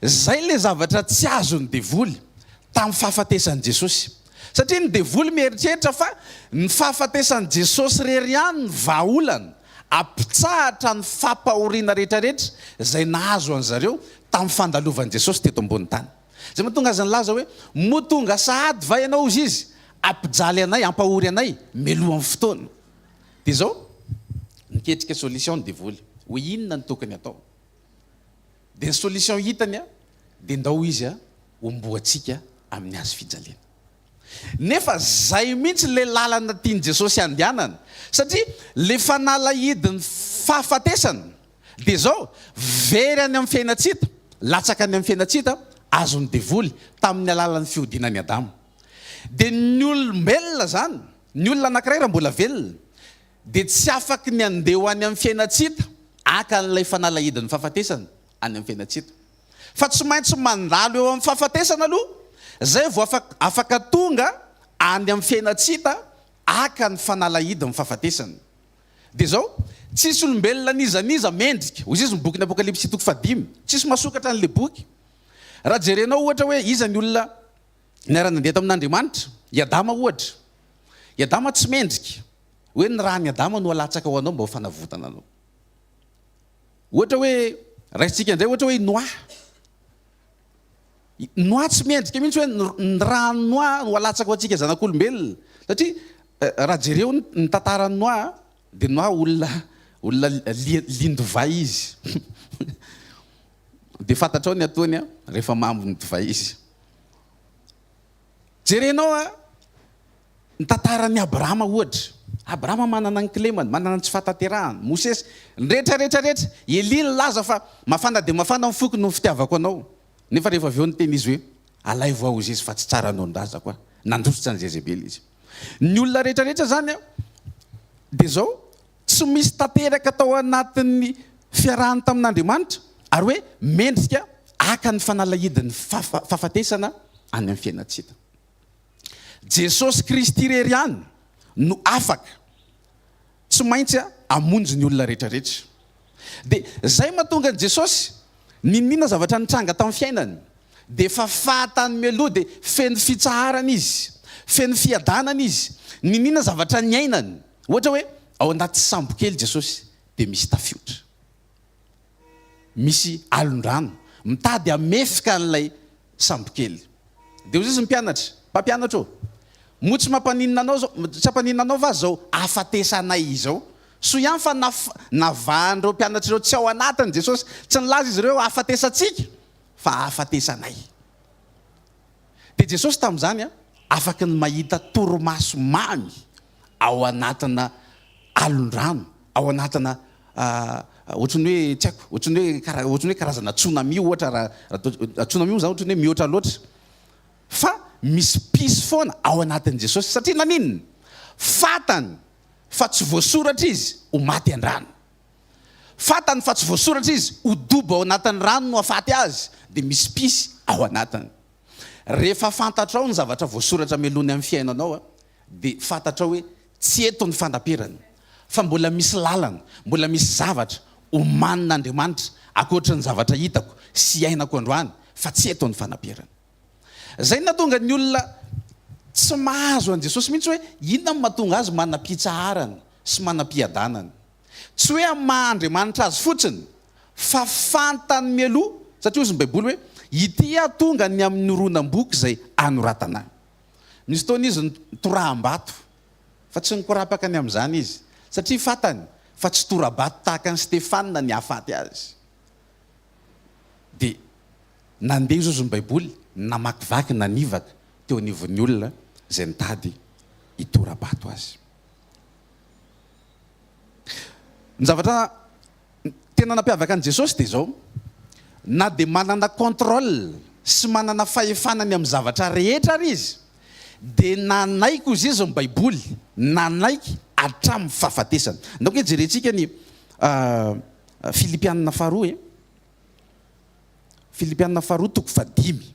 Izay ilay zavatra tsy azon'ny devoly tamin'ny fahafatesan'i Jesosy. Satria ny devoly mieritreritra fa ny fahafatesan'i Jesosy irery ihany no vahaolana hampitsahatra ny fampahoriana rehetrarehetra izay nahazo an-dry zareo tamin'ny fandalovan'i Jesosy teto ambonin'ny tany. Izay mahatonga azy nilaza hoe, Moa tonga sahady va Ianao, hoy Izy, hampijaly anay, hampahory anay mialohan'ny fotoana? Dia izao, niketrika solution ny devoly. Hoe inona no tokony hatao? Dia ny solution hitany a, dia ndao izy a homboantsika amin'ny hazo fijaliana. Nefa zay mihitsy le lalana tian'i Jesosy handehanana, satria le fanalahidin'ny fahafatesana dia zao, very any amin'ny fiainantsita, latsaka any amin'ny fiainantsita, azon'ny devoly tamin'ny alalan'ny fihodinan'i Adama. Dia ny olombelona zany, ny olona anakiray raha mbola velona, dia tsy afaky ny handeha ho any amin'ny fiaina tsy hita, haka an'ilay fanalahidin'ny fahafatesana any amin'ny fiaina tsy hita. Fa tsy maintsy mandalo eo amin'ny fahafatesana aloha, izay vao afaka tonga any amin'ny fiaina tsy hita, haka ny fanalahidin'ny fahafatesana. Dia izao, Tsisy olombelona n'iza n'iza mendrika, hoy Jesoa ny bokin'ny Apokalypsy toko fahadimy. Tsisy mahasokatra an'ilay boky. Raha jerenao ohatra hoe iza ny olona niara-nandeha tamin'Andriamanitra, i Adama ohatra. I Adama tsy mendrika. Hoe ny ràn'i Adama no alatsaka ho anao mba ho fanavotana anao. Ohatra hoe, raisintsika indray ohatra hoe i Noa. Noa tsy mendrika mihitsy hoe ny ràn'i Noa no alatsaka ho antsika zanak'olombelona. Satria raha jereo ny tantaran'i Noa dia Noa olona olona lian-divay izy. Dia fantatrao ny ataony rehefa mambo ny divay izy. Jerenao ny tantaran'i Abrahama ohatra. Abrahama manana ny kilemany, manana ny tsy fahatanterahany. Mosesy, ny rehetra rehetra rehetra. Elia nilaza fa mafana dia mafana ny foko noho ny fitiavako anao. Nefa rehefa avy eo niteny izy hoe, Alaivo aho Hosezy fa tsy tsara hanao ny razako aho. Nandositra an'i Jezebela izy. Ny olona rehetra rehetra izany dia izao. tsy misy tanteraka tao anatin'ny fiarahany tamin'Andriamanitra, ary hoe mendrika haka ny fanalahidin'ny fahafatesana any amin'ny fiainantsika. Jesosy Kristy irery ihany no afaka tsy maintsy hamonjy ny olona rehetrarehetra. Dia izay mahatonga an'i Jesosy niniana zavatra nitranga tamin'ny fiainany, dia efa fahatany mialoha, dia feno fitsaharana izy, feno fiadanana izy, niniana zavatra niainany. Ohatra hoe ao anaty sambo kely Jesosy dia misy tafiotra. Misy alon-drano mitady hamefika an'ilay sambo kely. Dia hoy Jesosy ny mpianatra, Mpampianatra ô, moa tsy mampaninona anao izao, tsy hampaninona anao va izao hahafatesanay izao? Soa ihany fa navahan'ireo mpianatra ireo tsy ao anatiny Jesosy. Tsy nilaza izy ireo hoe hahafatesantsika, fa hahafatesanay. Dia Jesosy tamin'izany afaka ny mahita torimaso mamy ao anatina alon-drano, ao anatina ohatran'ny hoe tsy haiko, ohatran'ny hoe kara- ohatran'ny hoe karazana tsunami ohatra raha raha toa- tsunami moa zany ohatran'ny hoe mihoatra loatra fa misy mpisy foana ao anatin'i Jesosy satria naninona? fantany fa tsy voasoratra izy ho maty an-drano fantany fa tsy voasoratra izy ho dobo ao anatin'ny rano no hafaty azy dia misy mpisy ao anatiny rehefa fantatrao ny zavatra voasoratra melony amin'ny fiainanao a dia fantatrao hoe tsy eto ny fandaperany fa mbola misy lalana, mbola misy zavatra omanin'Andriamanitra ankoatry ny zavatra hitako sy iainako androany fa tsy eto ny fanaperany. Izay no nahatonga ny olona tsy mahazo an'i Jesosy mihitsy hoe inona no mahatonga azy manam-pitsaharana sy manam-piadanana. Tsy hoe amin'ny maha Andriamanitra azy fotsiny fa fantany mialoha satria hozy ny baiboly hoe ity aho tonga ny amin'ny horonam-boky izay anoratana ahy. Misy fotoana izy nitoraham-bato, fa tsy nikorapaka ny amin'izany izy, satria fantany fa tsy tora-bato tahaka an'i Stefana ny hahafaty azy. Dia nandeha zozo ny Baiboly, namakivaky, nanivaka teo anivon'ny olona izay nitady hitora-bato azy. Ny zavatra Ny tena nampiavaka an'i Jesosy dia izao, na dia manana contrôle sy manana fahefana ny amin'ny zavatra rehetra ary Izy, dia nanaiky hozy Izy ny baiboly, nanaiky hatramin'ny fahafatesany. Ndao kay jerentsika ny Filipianina faharoa e, Filipianina faharoa toko fahadimy.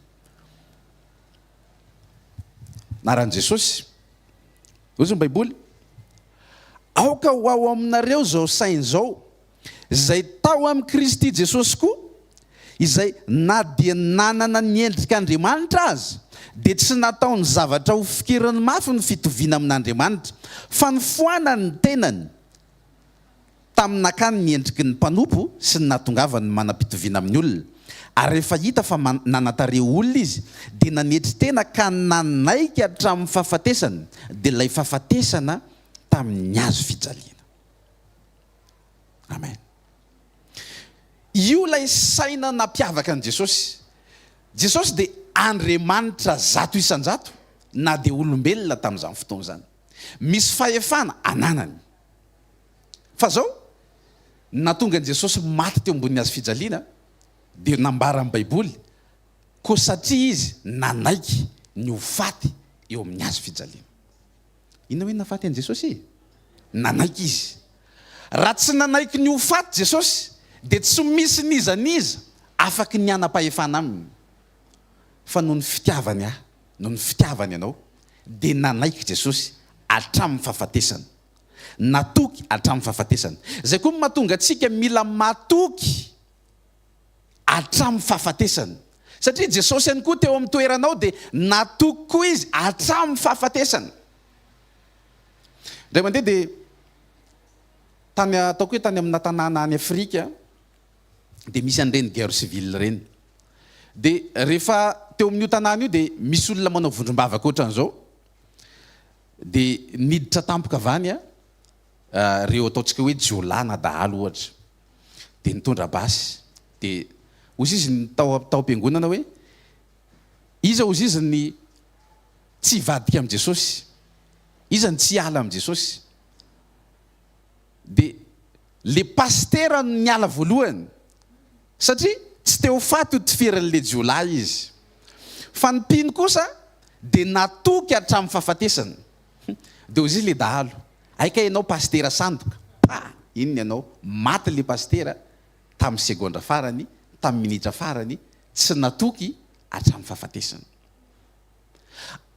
Anaran'i Jesosy. Hoy ny Baiboly, Aoka ho ao aminareo izao saina izao, izay tao amin'i Kristy Jesosy koa, izay na dia nanana ny endrik'Andriamanitra aza, dia tsy nataony zavatra ho fikiriny mafy ny fitoviana amin'Andriamanitra, fa nifoanany ny tenany, Tamin'ny nakany ny endriky ny mpanompo sy ny nahatongavany ny manam-pitoviana amin'ny olona, ary rehefa hita fa nanan-tarehy ho olona izy, dia nanetry tena ka nanaiky hatramin'ny fahafatesany, dia ilay fahafatesana tamin'ny hazo fijaliana. Amen. Io ilay saina nampiavaka an'i Jesosy. Jesosy dia Andriamanitra zato isan-jato, na dia olombelona tamin'izany fotoana izany. Misy fahefana ananany. Fa zao, ny nahatonga an'i Jesosy maty teo ambonin'ny hazo fijaliana dia nambaran'ny Baiboly, koa satria izy nanaiky ny ho faty eo amin'ny hazo fijaliana. Inona hoe nafaty an'i Jesosy e? Nanaiky izy. Raha tsy nanaiky ny ho faty Jesosy dia tsy misy n'iza n'iza afaky ny hanam-pahefana aminy. Fa noho ny fitiavany ahy, noho ny fitiavany anao dia nanaiky Jesosy hatramin'ny fahafatesana. natoky hatramin'ny fahafatesany. Izay koa no mahatonga antsika mila matoky hatramin'ny fahafatesany. Satria Jesosy ihany koa teo amin'ny toeranao dia natoky koa Izy hatramin'ny fahafatesany. Indray mandeha dia tany ataoko hoe tany amina tanàna any Afrika dia misy an'ireny guerre civile ireny. Dia rehefa teo amin'io tanàna io dia misy olona manao vondrom-bavaka ohatran'izao, Dia niditra tampoka avy any ireo ataontsika hoe jiolahy na dahalo ohatra. Dia nitondra basy. Dia hoy izy tao tao am-piangonana hoe, Iza hozy izy ny tsy hivadika amin'i Jesosy? Iza ny tsy hiala amin'i Jesosy? Dia ilay pasitera no niala voalohany. Satria tsy te ho faty ho tifirin'ilay jiolahy izy. Fa ny mpino kosa dia natoky hatramin'ny fahafatesana. Dia hozizy ilay dahalo, hay kay ianao pasitera sandoka, pa! Inona ianao, maty ilay pasitera tamin'ny segondra farany, tamin'ny minitra farany, tsy natoky hatramin'ny fahafatesana.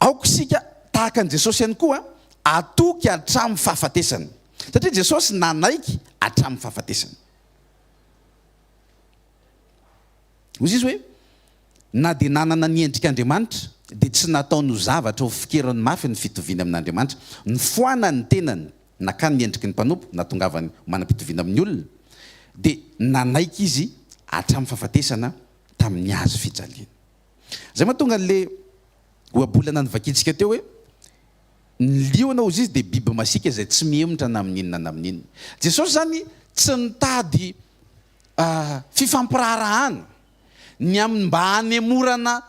Aoka isika tahaka an'i Jesosy ihany koa hatoky hatramin'ny fahafatesana. Satria Jesosy nanaiky hatramin'ny fahafatesana. Hoy Jesosy hoe, Na dia nanana ny endrik'Andriamanitra, dia tsy nataony ho zavatra hofikerany mafy ny fitoviany amin'Andriamanitra. Nifoana ny tenany, nakany ny endriky ny mpanompo, nahatongavany ho manam-pitoviana amin'ny olona, dia nanaiky izy hatramin'ny fahafatesana tamin'ny hazo fijaliana. Izay mahatonga an'ilay ohabolana novakintsika teo hoe, Ny liona, hoy Izy, dia biby masiaka izay tsy mihemotra na amin' inona na amin' inona. Jesosy izany tsy nitady fifampiraharahana. Ny aminy mba hanemorana,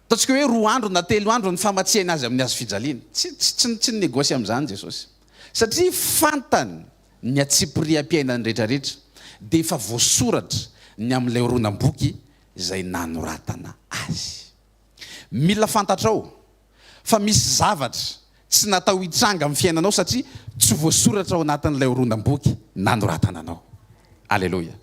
ataontsika hoe roa andro na telo andro ny famatsiany Azy amin'ny hazofijaliana. Tsy, tsy, tsy, tsy ni-negosya amin'izany Jesosy. Satria fantany ny antsipiriam-piainany rehetrarehetra, dia efa voasoratra ny amin'ilay horonam-boky izay nanoratana Azy. Mila fantatrao fa misy zavatra tsy natao hitranga amin'ny fiainanao satria tsy voasoratra ao anatin'ilay horonam-boky nanoratana anao. Aleloia.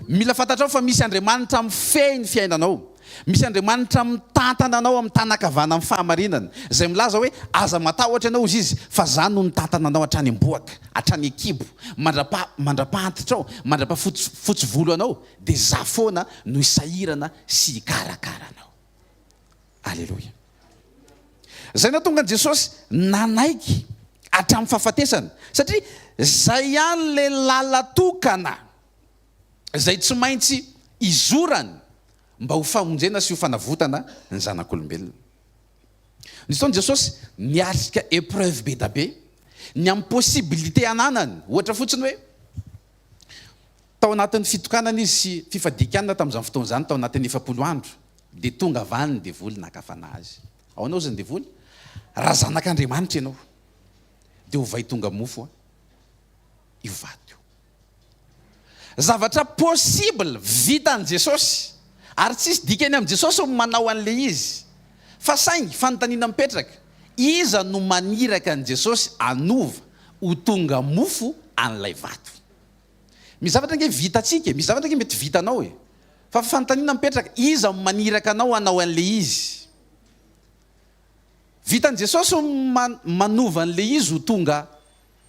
Mila fantatrao fa misy Andriamanitra mifehy ny fiainanao. Misy Andriamanitra mitantana anao amin'ny tàna ankavanan'ny fahamarinana, izay milaza hoe, Aza matahotra ianao, hoy Izy, fa izaho no nitantana anao hatrany am-bohoka, hatrany an-kibo, mandrapaha, mandrapaha-antitrao, mandrapaha-fotsy, fotsy volo anao, dia izaho foana no hisahirana sy hikarakara anao. Aleloia. Izay nahatonga an'i Jesosy nanaiky hatramin'ny fahafatesana. Satria izay ihany ilay lalan-tokana izay tsy maintsy izorany mba ho famonjena sy ho fanavotana ny zanak'olombelona. Nisy fotoana Jesosy niatrika épreuve be dia be, ny amin'ny possibilité ananany. Ohatra fotsiny hoe, Tao anatin'ny fitokanana izy sy fifadian-kanina tamin'izany fotoana izany, tao anatin'ny efapolo andro, dia tonga avy any ny devoly naka fanahy azy. Ao anao izay ny devoly? Raha zanak'Andriamanitra ianao, dia ovay tonga mofo io vato io. Zavatra possible, vitan'i Jesosy, ary tsisy dikany amin'i Jesosy ny manao an'ilay izy. Fa saingy, fanontaniana mipetraka, iza no maniraka an'i Jesosy hanova ho tonga mofo an'ilay vato? Misy zavatra ange vitantsika e, misy zavatra ange mety vitanao e. Fa fanontaniana mipetraka, iza no maniraka anao hanao an'ilay izy? Vitan'i Jesosy ny manova an'ilay izy ho tonga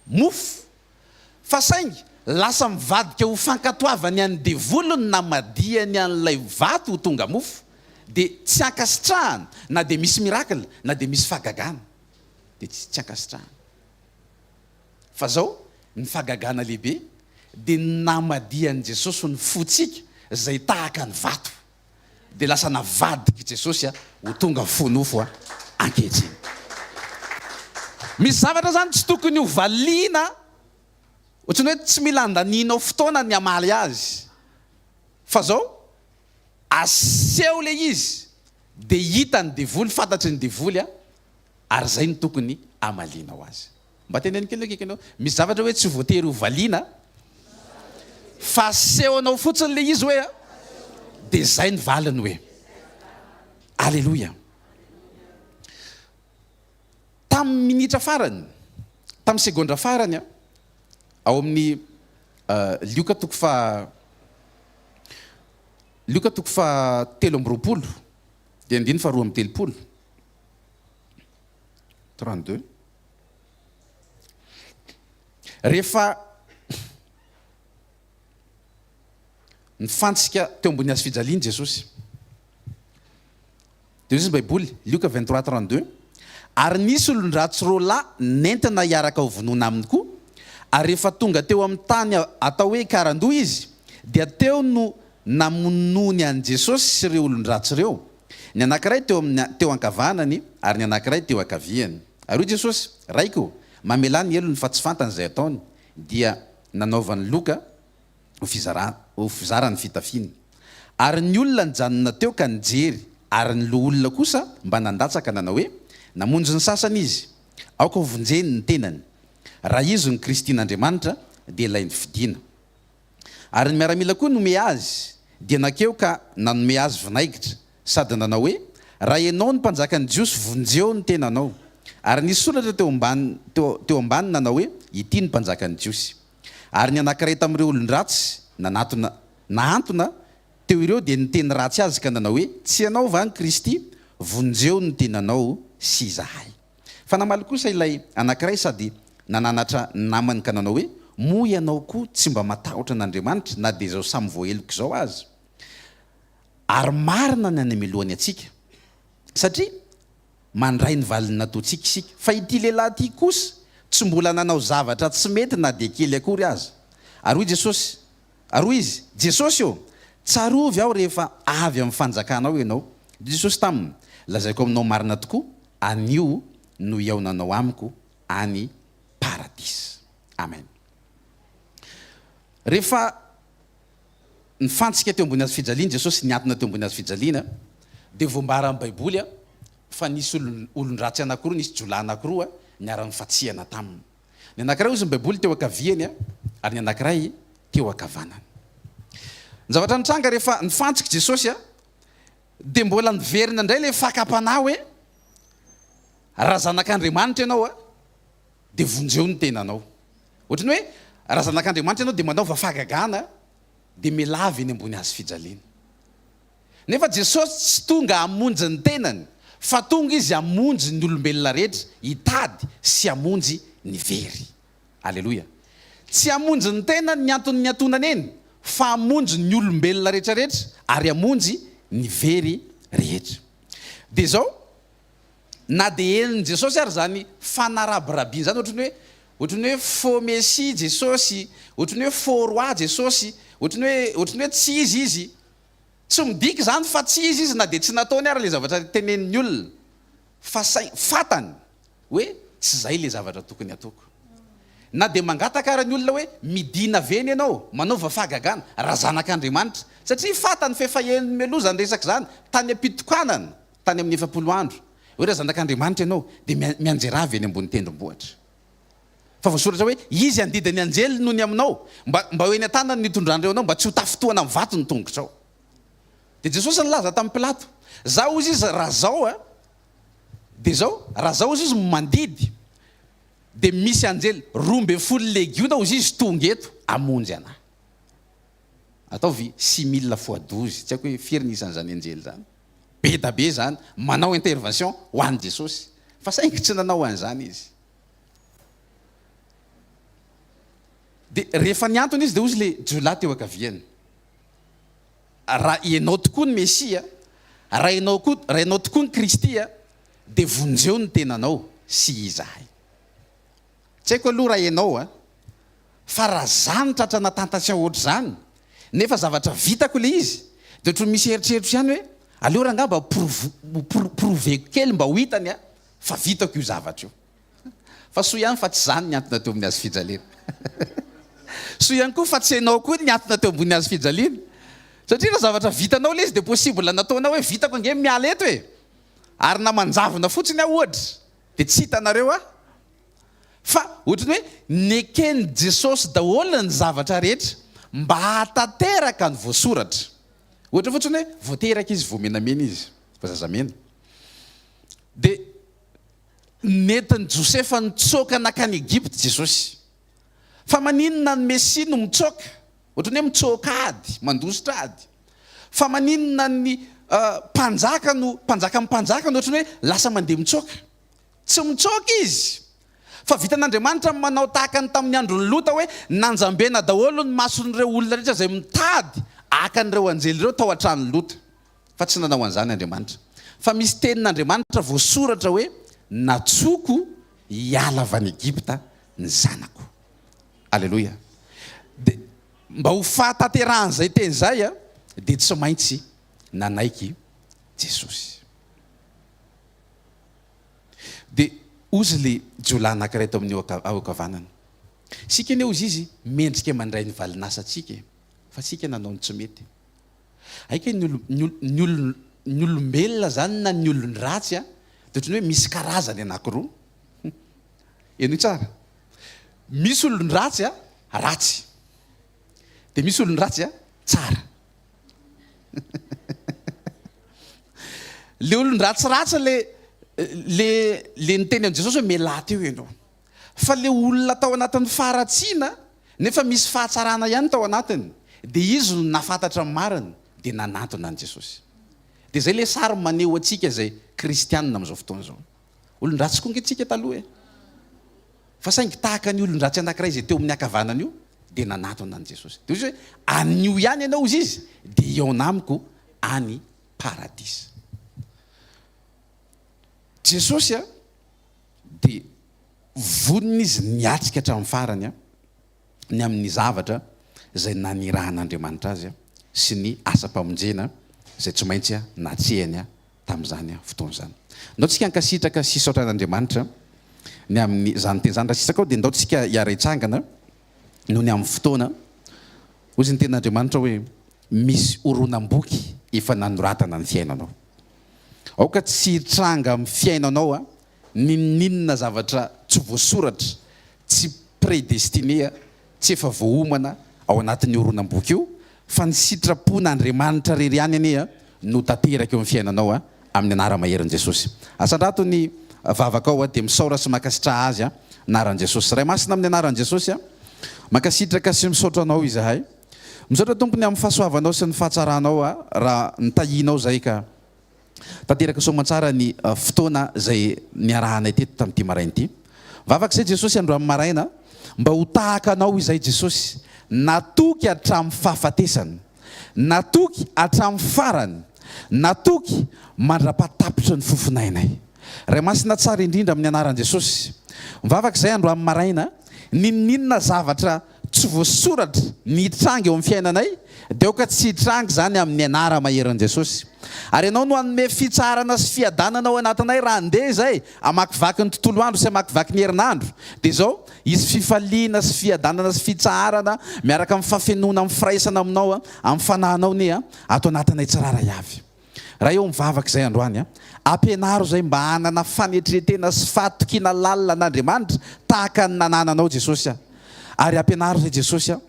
mofo. Fa saingy lasa mivadika ho fankatoavany an'ny devoly ny namadihany an'ilay vato ho tonga mofo, dia tsy ankasitrahana na dia misy miracle na dia misy fahagagana, dia tsy ankasitrahana. Fa zao ny fagagana lehibe dia ny namadihan'i Jesosy ny fotsika zay tahaka ny vato dia lasa navadik'i Jesosy ho tonga fo nofo ankehitriny. Misy zavatra zany tsy tokony ho valiana otrany hoe tsy mila andanianao fotoana ny hamaly azy fa zao aseho le izy dia hitan'ny devoly, fantatry ny devoly ary izay no tokony hamalianao azy. Mba teneno kely akaiky anao, misy zavatra hoe tsy voatery ho valiana fa asehonao fotsiny ilay izy hoe dia izay ny valiny hoe. Aleloia. Tamin'ny minitra farany, tamin'ny segondra farany ao amin'ny Lioka toko faha Lioka toko faha telo amby roapolo dia andininy faha roa amby telopolo. 32 rehefa nifantsika teo ambony hazo fijaliany Jesosy dia hoy ny Baiboly Lioka 23 32 ary nisy olon-dratsy roa lahy nentina hiaraka ho vonoina aminy koa ary rehefa tonga teo amin'ny tany atao hoe Karandoha izy dia teo no namonoany an'i Jesosy sy ireo olon-dratsy ireo Ny anankiray teo amin'ny, teo ankavanany, ary ny anankiray teo ankaviany. Ary hoy Jesosy, Raiko ô, mamelà ny helony fa tsy fantany izay ataony. Dia nanaovany loka ho fizarana, ho fizarany fitafiny. Ary ny olona nijanona teo ka nijery, ary ny loholona kosa mba nandatsaka nanao hoe, Namonjy ny sasany izy. Aoka hovonjeny ny tenany. Raha izy no Kristin'Andriamanitra, dia ilay nifidina. Ary ny miaramila koa nomea azy dia nakeo ka nanome azy vinaigitra, sady nanao hoe, Raha ianao no mpanjakan'ny Jiosy, vonjeo ny tenanao. Ary nisy soratra teo ambany, teo ambany nanao hoe, Ity no mpanjakan'ny Jiosy. Ary ny anankiray tamin'ireo olon-dratsy nanatona, nahantona, teo ireo dia niteny ratsy azy ka nanao hoe, Tsy ianao va ny Kristy? Vonjeo ny tenanao sy izahay. Fa namaly kosa ilay anankiray sady nananatra ny namany ka nanao hoe, Moa ianao koa tsy mba matahotra an'Andriamanitra na dia izao samy voaheloka izao aza? Ary marina ny any amelohany antsika, satria mandray ny valin'ny nataontsika isika. Fa ity lehilahy ity kosa tsy mbola nanao zavatra tsy mety na dia kely akory aza. Ary hoy Jesosy, Ary hoy izy, Jesosy ô, tsarovy aho rehefa avy amin'ny fanjakanao ianao. Dia hoy Jesosy taminy, Lazaiko aminao marina tokoa, anio no hihaonanao amiko any Paradisa. Amen. Rehefa nifantsika teo ambony hazo fijaliana Jesosy, niatona teo ambony hazo fijaliana, dia voambaran'ny Baiboly fa nisy olon-dratsy anankiroa, nisy jiolahy anankiroa niara-nifatsihana taminy. Ny anankiray hozy ny Baiboly teo ankaviany ary ny anankiray teo ankavanany. Ny zavatra nitranga rehefa nifantsika Jesosy dia mbola niverina indray ilay fakam-panahy hoe raha zanak'Andriamanitra ianao dia vonjeo ny tenanao. Ohatry ny hoe raha zanak'Andriamanitra ianao dia manaova fahagagana dia mialà avy eny ambony hazofijaliana. Nefa Jesosy tsy tonga hamonjy ny tenany fa tonga Izy hamonjy ny olombelona rehetra, hitady sy hamonjy ny very. Aleloia. Tsy hamonjy ny tenany ny antony niatonany eny fa hamonjy ny olombelona rehetrarehetra ary hamonjy ny very rehetra. Dia izao, na dia henon'i Jesosy ary izany fanarabirabiana izany, ohatry ny hoe, ohatry ny hoe faux Messie Jesosy, ohatry ny hoe faux Roi Jesosy, ohatry ny hoe, ohatry ny hoe tsy Izy Izy, Tsy midika izany fa tsy izy izy na dia tsy nataony ary ilay zavatra tenenin'ny olona, fa saingy fantany hoe tsy izay ilay zavatra tokony hataoko. Na dia mangataka ara ny olona hoe midìna ve ny ianao, manaova fahagagana, raha zanak'Andriamanitra, satria fantany f'efa eny mialoha izany resaka izany, tany am-pitokanana, tany amin'ny efapolo andro, hoe raha zanak'Andriamanitra ianao, dia mianjerava eny ambony tendrombohitra. Fa voasoratra hoe, Izy handidy ny anjeliny noho ny aminao, mba mba ho eny an-tanany ny hitondran'ireo anao, mba tsy ho tafintohana amin'ny vato ny tongotrao. Dia Jesosy nilaza tamin'i Pilato, Zao hozy izy, raha zao a, dia zao, raha zao hozy izy, mandidy, dia misy anjely roa ambin'ny folo legiona hozy izy tonga eto hamonjy anà. Ataovy six mille fois douze, tsy haiko hoe firy ny isan'izany anjely izany. be da be zany manao intervention ho an'i Jesosy fa saingy tsy nanao an'izany izy. Dia rehefa niantona izy dia hozy le jiolahy teo ankaviany, raha ianao tokoa ny Mesia, raha ianao koa, raha ianao tokoa ny Kristy dia vonjeo ny tenanao sy izahay. Tsy haiko aloha raha ianao a! Fa raha za no tratra na tentation ohatr'izany, nefa zavatra vitako ilay izy, dia ohatran'ny misy eritreritro ihany hoe, aleo rangahy mba provo, proveko kely mba ho hitany a! fa vitako io zavatra io. Fa soa ihany fa tsy za no niantona teo amin'ny hazofijaliana. Soa ihany koa fa tsy ianao koa no niantona teo ambonin'ny hazofijaliana. Satria raha zavatra vitanao ilay izy dia possible nataonao hoe vitako ange ny miala eto e! ary na manjavona fotsiny aho ohatra, Dia tsy hitanareo aho? Fa ohatry ny hoe neken'i Jesosy daholo ny zavatra rehetra mba hahatanteraka ny voasoratra. Ohatra fotsiny hoe vao teraka izy, vao menamena izy, vao zazamena. Dia nentin'i Josefa nitsoaka nankany Egypta Jesosy. Fa maninona ny Mesia no mitsoaka? Ohatran'ny hoe mitsoaka ady, mandositra ady. Fa maninona ny Mpanjaka no, Mpanjakan'ny mpanjaka no ohatran'ny hoe lasa mandeha mitsoaka? Tsy mitsoaka Izy. Fa vitan'Andriamanitra ny manao tahaka ny tamin'ny andron'i Lota hoe nanjambena daholo ny mason'ireo olona rehetra izay mitady haka an'ireo anjely ireo tao an-tranon'i Lota. Fa tsy nanao an'izany Andriamanitra. Fa misy tenin'Andriamanitra voasoratra hoe, Natsoiko hiala avy any Egypta ny zanako. Aleloia. Dia mba ho fahatanterahan'izay teny izay, dia tsy maintsy nanaiky Jesosy. Dia ozy ilay jiolahy anankiray tao amin'ny ao ankavanana. Isika anie ozy izy mendrika mandray ny valin'asantsika e. Fa isika nanao ny tsy mety. Aika ny olo ny olo ny olo ny olombelona zany na ny olon-dratsy a de ohatran'ny hoe misy karazany anankiroa hum henoy tsara misy olon-dratsy a ratsy de misy olon-dratsy a tsara le olon-dratsy ratsy le le le niteny an'i Jesosy hoe mialà teo ianao fa le olona tao anatin'ny faharatsiana nefa misy fahatsarana ihany tao anatiny de izy no nafantatra ny marina de nanantona an'i Jesosy. De zay le sary maneho antsika zay kristianina amin'izao fotoana zao. Olon-dratsy koa nge tsika taloha e! Fa saingy tahaka an'io olon-dratsy anakiray izay teo amin'ny hakavanana io de nanantona an'i Jesosy. De hoy izy hoe anio ihany ianao hozy izy de hihaona amiko any paradisa. Jesosy a! Dia vonona izy ny hiatrika hatramin'ny farany ny amin'ny zavatra izay nanirahan'Andriamanitra azy sy ny asam-pamonjena izay tsy maintsy natrehany tamin'izany fotoana izany. Ndao tsika hankasitraka sy hisaotra an'Andriamanitra ny amin'izany teny izany. Raha sisa kao dia ndao tsika hiara-hitsangana noho ny amin'ny fotoana. Hoy ny tenin'Andriamanitra hoe, Misy horonam-boky efa nanoratana ny fiainanao. Aoka tsy hitranga amin'ny fiainanao n'inon'inona zavatra tsy voasoratra, tsy prédestiné, tsy efa voaomana ao anatin'io horonam-boky io, fa ny sitrapon'Andriamanitra irery ihany anie no tanteraka eo amin'ny fiainanao amin'ny anara-maherin'i Jesosy. Asandrato ny vavakao dia misaora sy mankasitraha Azy, anaran'i Jesosy. Ray Masina amin'ny anaran'i Jesosy, mankasitraka sy misaotra Anao izahay. Misaotra Tompo ny amin'ny fahasoavanao sy ny fahatsaranao aho raha nitahianao izay ka tanteraka soamantsara ny fotoana izay niarahanay teto tamin'ity maraina ity. Vavaka izay Jesosy androany maraina mba ho tahaka anao izahay Jesosy natoky hatramin'ny fahafatesana, natoky hatramin'ny farany, natoky mandrapaha tapitry ny fofonainay. Ray Masina tsara indrindra amin'ny anaran'i Jesosy, mivavaka izahay androany maraina n'inon'inona zavatra tsy voasoratra ny hitranga eo amin'ny fiainanay dia aoka tsy hitranga izany amin'ny anara maherin'i Jesosy. Ary Ianao no hanome fitsaharana sy fiadanana ao anatinay raha handeha izay hamakivaky ny tontolo andro sy hamakivaky ny herinandro dia izao hisy fifaliana sy fiadanana sy fitsaharana miaraka amin'ny fafenoana amin'ny firaisana aminao amin'ny fanahinao nia ato anatinay tsirairay avy. Raha eo mivavaka izay androany a. Ampianaro izay mba hanana fanetretena sy fahatokiana lalina an'Andriamanitra tahaka ny nanananao Jesosy a. Ary ampianaro izay Jesosy a,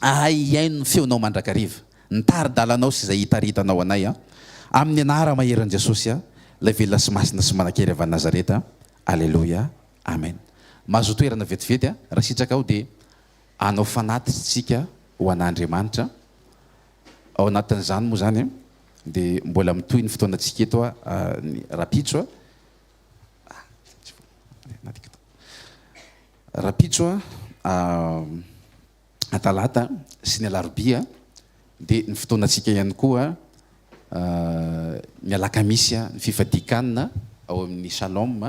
hahay hihaino ny feonao mandrakariva, ny tari-dalanao sy izay hitaritanao anay a. Amin'ny anara maherin'i Jesosy a, ilay velona sy masina sy manankery avy any Nazareta. Aleloia. Amen. Mahazoa toerana vetivety a. Raha sitraka ao dia hanao fanatitsika ho an'Andriamanitra. Ao anatin'izany moa izany dia mbola mitohy ny fotoanantsika eto ny rahampitso rahampitso talata sy ny alarobia dia ny fotoanantsika ihany koa ny alakamisy ny fifadian-kanina ao amin'ny shalom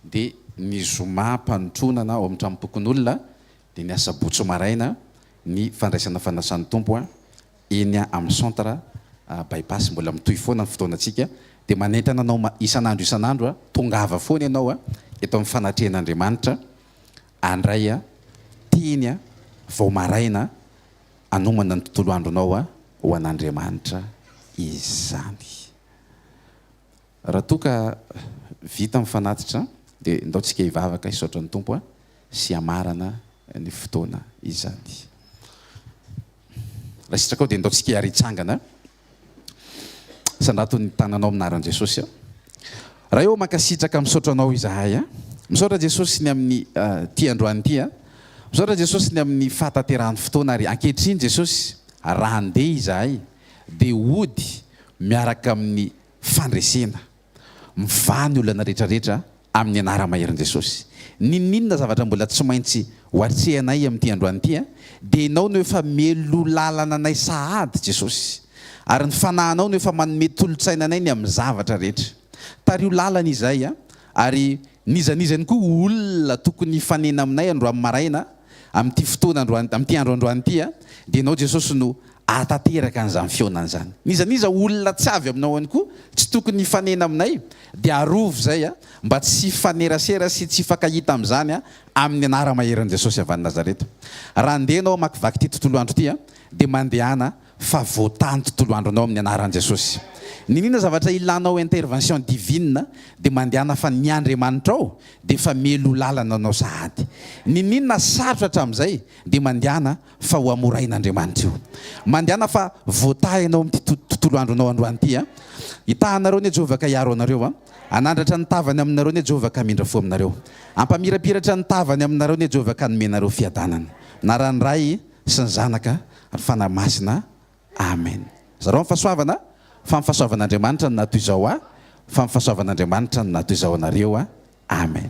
dia ny zoma am-panotronana ao amin'ny tranom-pokonolona dia ny asabotsy maraina ny fandraisana fanasan'ny Tompo eny amin'ny centre By-pass, mbola mitohy foana ny fotoanantsika, dia manentana anao isan'andro isan'andro, tongava foana ianao eto amin'ny fanatrehan'Andriamanitra handray teny vao maraina hanomana ny tontolo andronao ho an'Andriamanitra izany. Raha toa ka vita ny fanatitra dia ndao tsika hivavaka hisaotra ny Tompo sy hamarana ny fotoana izany. Raha sitrakao dia ndao tsika ary hitsangana. Sandrato ny tananao amina ran'i Jesosy. Ray ô mankasitraka misaotra anao izahay. Misaotra Jesosy ny amin'ny ty androany ty. Misaotra Jesosy ny amin'ny fahatanterahan'ny fotoana ary ankehitriny Jesosy raha ndeha izahay dia hody miaraka amin'ny Fandresena. Mivaha ny olana rehetrarehetra amin'ny anara-maherin'i Jesosy. N'inon'inona zavatra mbola tsy maintsy ho atrehanay amin'ity androany ity dia Ianao no efa mielolàlana anay sahady Jesosy. Ary ny Fanahinao no efa manome tolotsaina anay ny amin'ny zavatra rehetra. Tariho làlana izahay ary n'iza n'iza ihany koa olona tokony hifanena aminay androany maraina amin'ity fotoana androany amin'ity andro androany ity dia Ianao Jesosy no ahatanteraka an'izany fihaonana izany. N'iza n'iza olona tsy avy aminao ihany koa tsy tokony hifanena aminay dia arovy izay mba tsy hifanerasera sy tsy hifankahita amin'izany amin'ny anara-maherin'i Jesosy avy any Nazareta. Raha handeha ianao hamakivaky ity tontolo andro ity dia mandehana fa voatany tontolo andronao amin'ny anaran'i Jesosy. Niniana zavatra ilanao intervention divine dia mandehana fa ny Andriamanitrao dia efa mielo lalana anao sahady. Niniana sarotra hatramin'izay dia mandehana fa ho hamorain'Andriamanitra io. Mandehana fa voataha ianao amin'ity tontolo andronao androany ity a! Hitahanareo anie Jehovah ka hiaro anareo a! Hanandratra ny tavany aminareo anie Jehovah ka hamindra fo aminareo. Hampamirapiratra ny tavany aminareo anie Jehovah ka hanome anareo fiadanana. Anaran'ny Ray sy ny Zanaka ary Fanahy Masina. Amen. Zarao ny fahasoavana fa ny fahasoavan'Andriamanitra no naha toy izao ahy, fa ny fahasoavan'Andriamanitra no naha toy izao anareo. Amen.